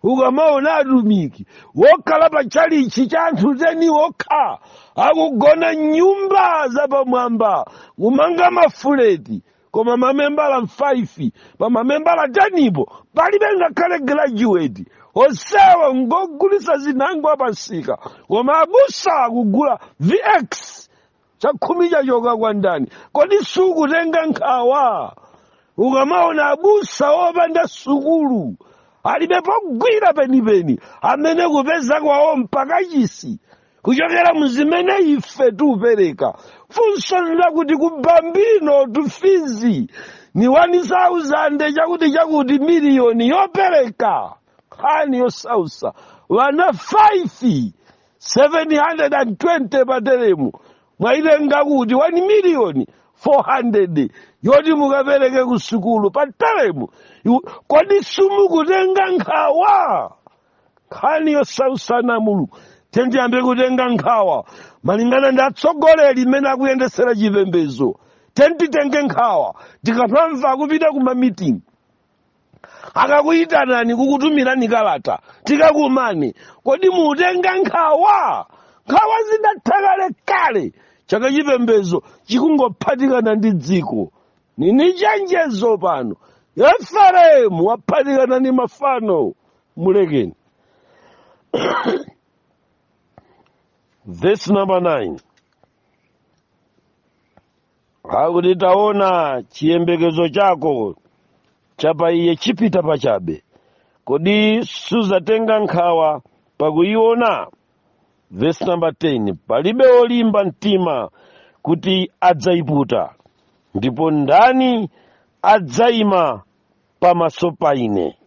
[SPEAKER 1] ukamaona atumiki wokhala pa tchalichi cha anthu teni wokha akugona mnyumba zapamwamba kumanga mafuleti koma mamembala 5 pa mamembala 10 po palibe ngakhale graduate onsewo ngogulisa zinango a pamsika koma abusa akugula vx chakhumi chachoka kwa ndani kodi sukutenga nkhawa ukamaona abusa opanda sukulu alibe pogwira penipeni amene kupeza kwawo mpaka chisi kuchokera mu zimene ife tikupereka funso lakuti ku bambino tufizi ni 1000 chakuti chakuti miliyoni yopereka nkhani yosausa wana 5 720 pateremu mwayitenga kuti 1 miliyoni 400 yoti mukapereke ku sukulu pateremu kodi simukutenga nkhawa nkhani yosausa ana a mulungu tendiyambe kutenga nkhawa malingana ndi atsogoleri mmene akuyendesera chipembedzo tenditenge nkhawa tikamamva kupita ku ma meeting akakuyitanani kukutumirani kalata tikakumane kodi mutenga nkhawa nkhawa zidatha kalekale chaka chipembedzo chikungophatikana ndi dziko nini chenjezo pano efereimu waphatikana ndi mafano mulekeni verse number 9 akuti taona chiyembekezo chako cha pa iye chipita pachabe kodi suzatenga nkhawa pakuyiona verse number 10 palibe wolimba mtima kuti adzayiputa ndipo ndani adzayima pamaso pa ine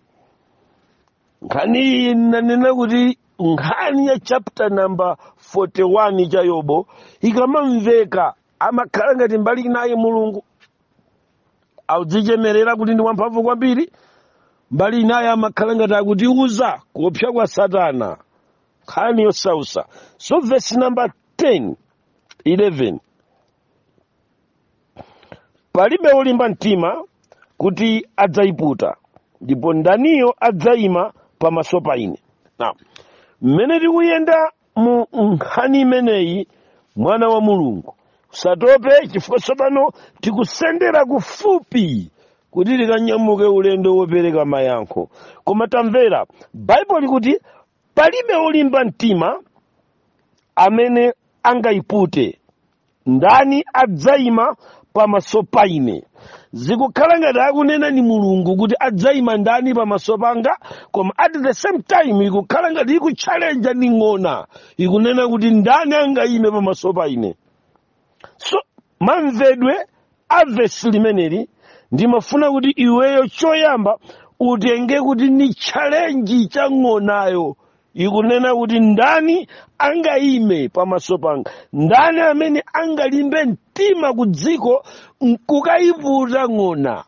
[SPEAKER 1] nkhani iyi nanena kuti nkhani ya chapter number 41 cha yobo ikamamveka amakhala ngati mbali inayi mulungu akudzichemerera kuti ndi wamphamvu kwambiri mbali inayo amakhala ngati akutiuza kuopsa kwa satana nkhani yosausa so verse number 10 11 palibe wolimba mtima kuti adzayiputa ndipo ndaniyo adzayima pamaso pa ine now mmene tikuyenda mu nkhani imeneyi mwana wa mulungu usatope chifukwa tsopano tikusendera kufupi kuti tikanyamuke ulendo wopereka mayankho koma tamvera baibulo likuti palibe wolimba mtima amene angayipute ndani adzaima pamaso pa ine zikukhala ngati akunena ni mulungu kuti adzaima ndani pamaso panga koma at the same time ikukhala ngati ikutchalenja ni ng'ona ikunena kuti ndani angaime pamaso pa ine so mamvedwe a vesi limeneli ndimafuna kuti iweyo choyamba utenge kuti ni chalenji cha ng'onayo ikunena kuti ndani angayime pamaso panga ndani amene angalimbe mtima ku dziko nkukayiputa ng'ona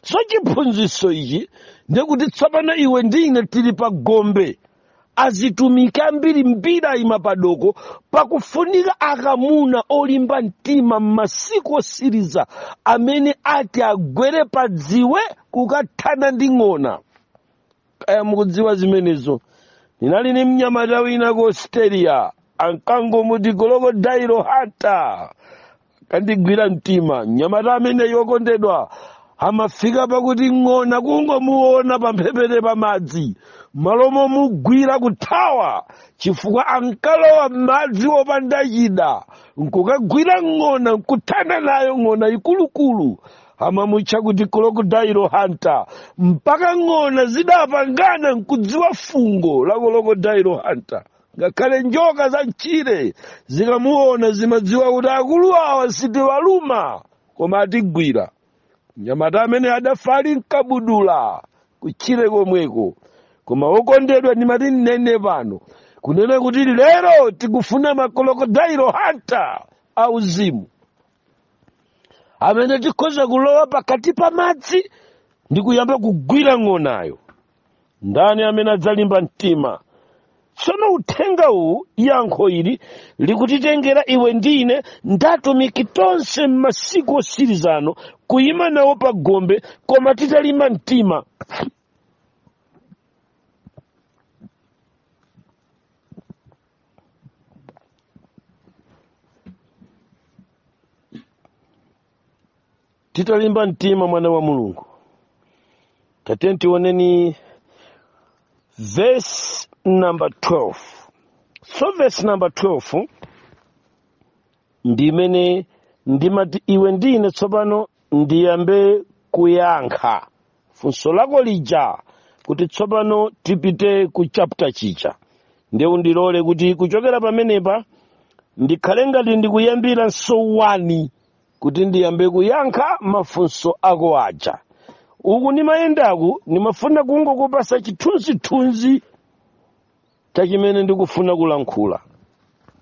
[SPEAKER 1] so chiphunzitso ichi ndikuti tsopano iwe ndi ine tili pa gombe azitumiki ambirimbiri ayima padoko pakufunika akamuna olimba mtima m'masiku osiriza amene ati agwere pa dziwe kukathana ndi ng'ona kaya mukudziwa zimenezo kunali ni mnyamata wina ku australia ankangomuti crocodile hunter ankandigwira mtima mnyamata ameneyi okondedwa amafika pakuti ng'ona kungomuona pamphepete pa madzi malo momugwira kuthawa chifukwa ankalowa madzi opanda chida nkukagwira ng'ona nkuthana nayo ng'ona zikuluzikulu amamutcha kuti crocodile hunter mpaka ng'ona zidapangana nkudziwa fungo la crocodile hunter ngakhale njoka za m'tchire zikamuona zimadziwa kuti akulu awa sitiwaluma koma atigwira mnyamata amene adafa ali mkabudula kutchire komweko koma okondedwa ndimati nnene pano kunena kuti lero tikufuna ma crocodile hunter auzimu amene tikhoza kulowa pakati pa madzi ndi kuyamba kugwira ng'onayo ndani amene adzalimba mtima tsono uthenga uwu yankho ili likutitengera iwe ndi ine ndi atumiki tonse m'masiku otsirizano kuyima nawo pa gombe koma titalimba mtima titalimba mtima mwana wa mulungu tatiyeni tioneni verse number 12 so verse number 12 ndi imene ndimati iwe ndine tsopano ndiyambe kuyankha funso lako lija kuti tsopano tipite ku chapter chicha ndiye undilole kuti kuchokera pamenepa ndikhale ngati ndikuyambiranso one kuti ndiyambe kuyankha mafunso ako aja uku ndimayendaku ndimafuna kungokupatsa chithunzithunzi cha chimene ndikufuna kulankhula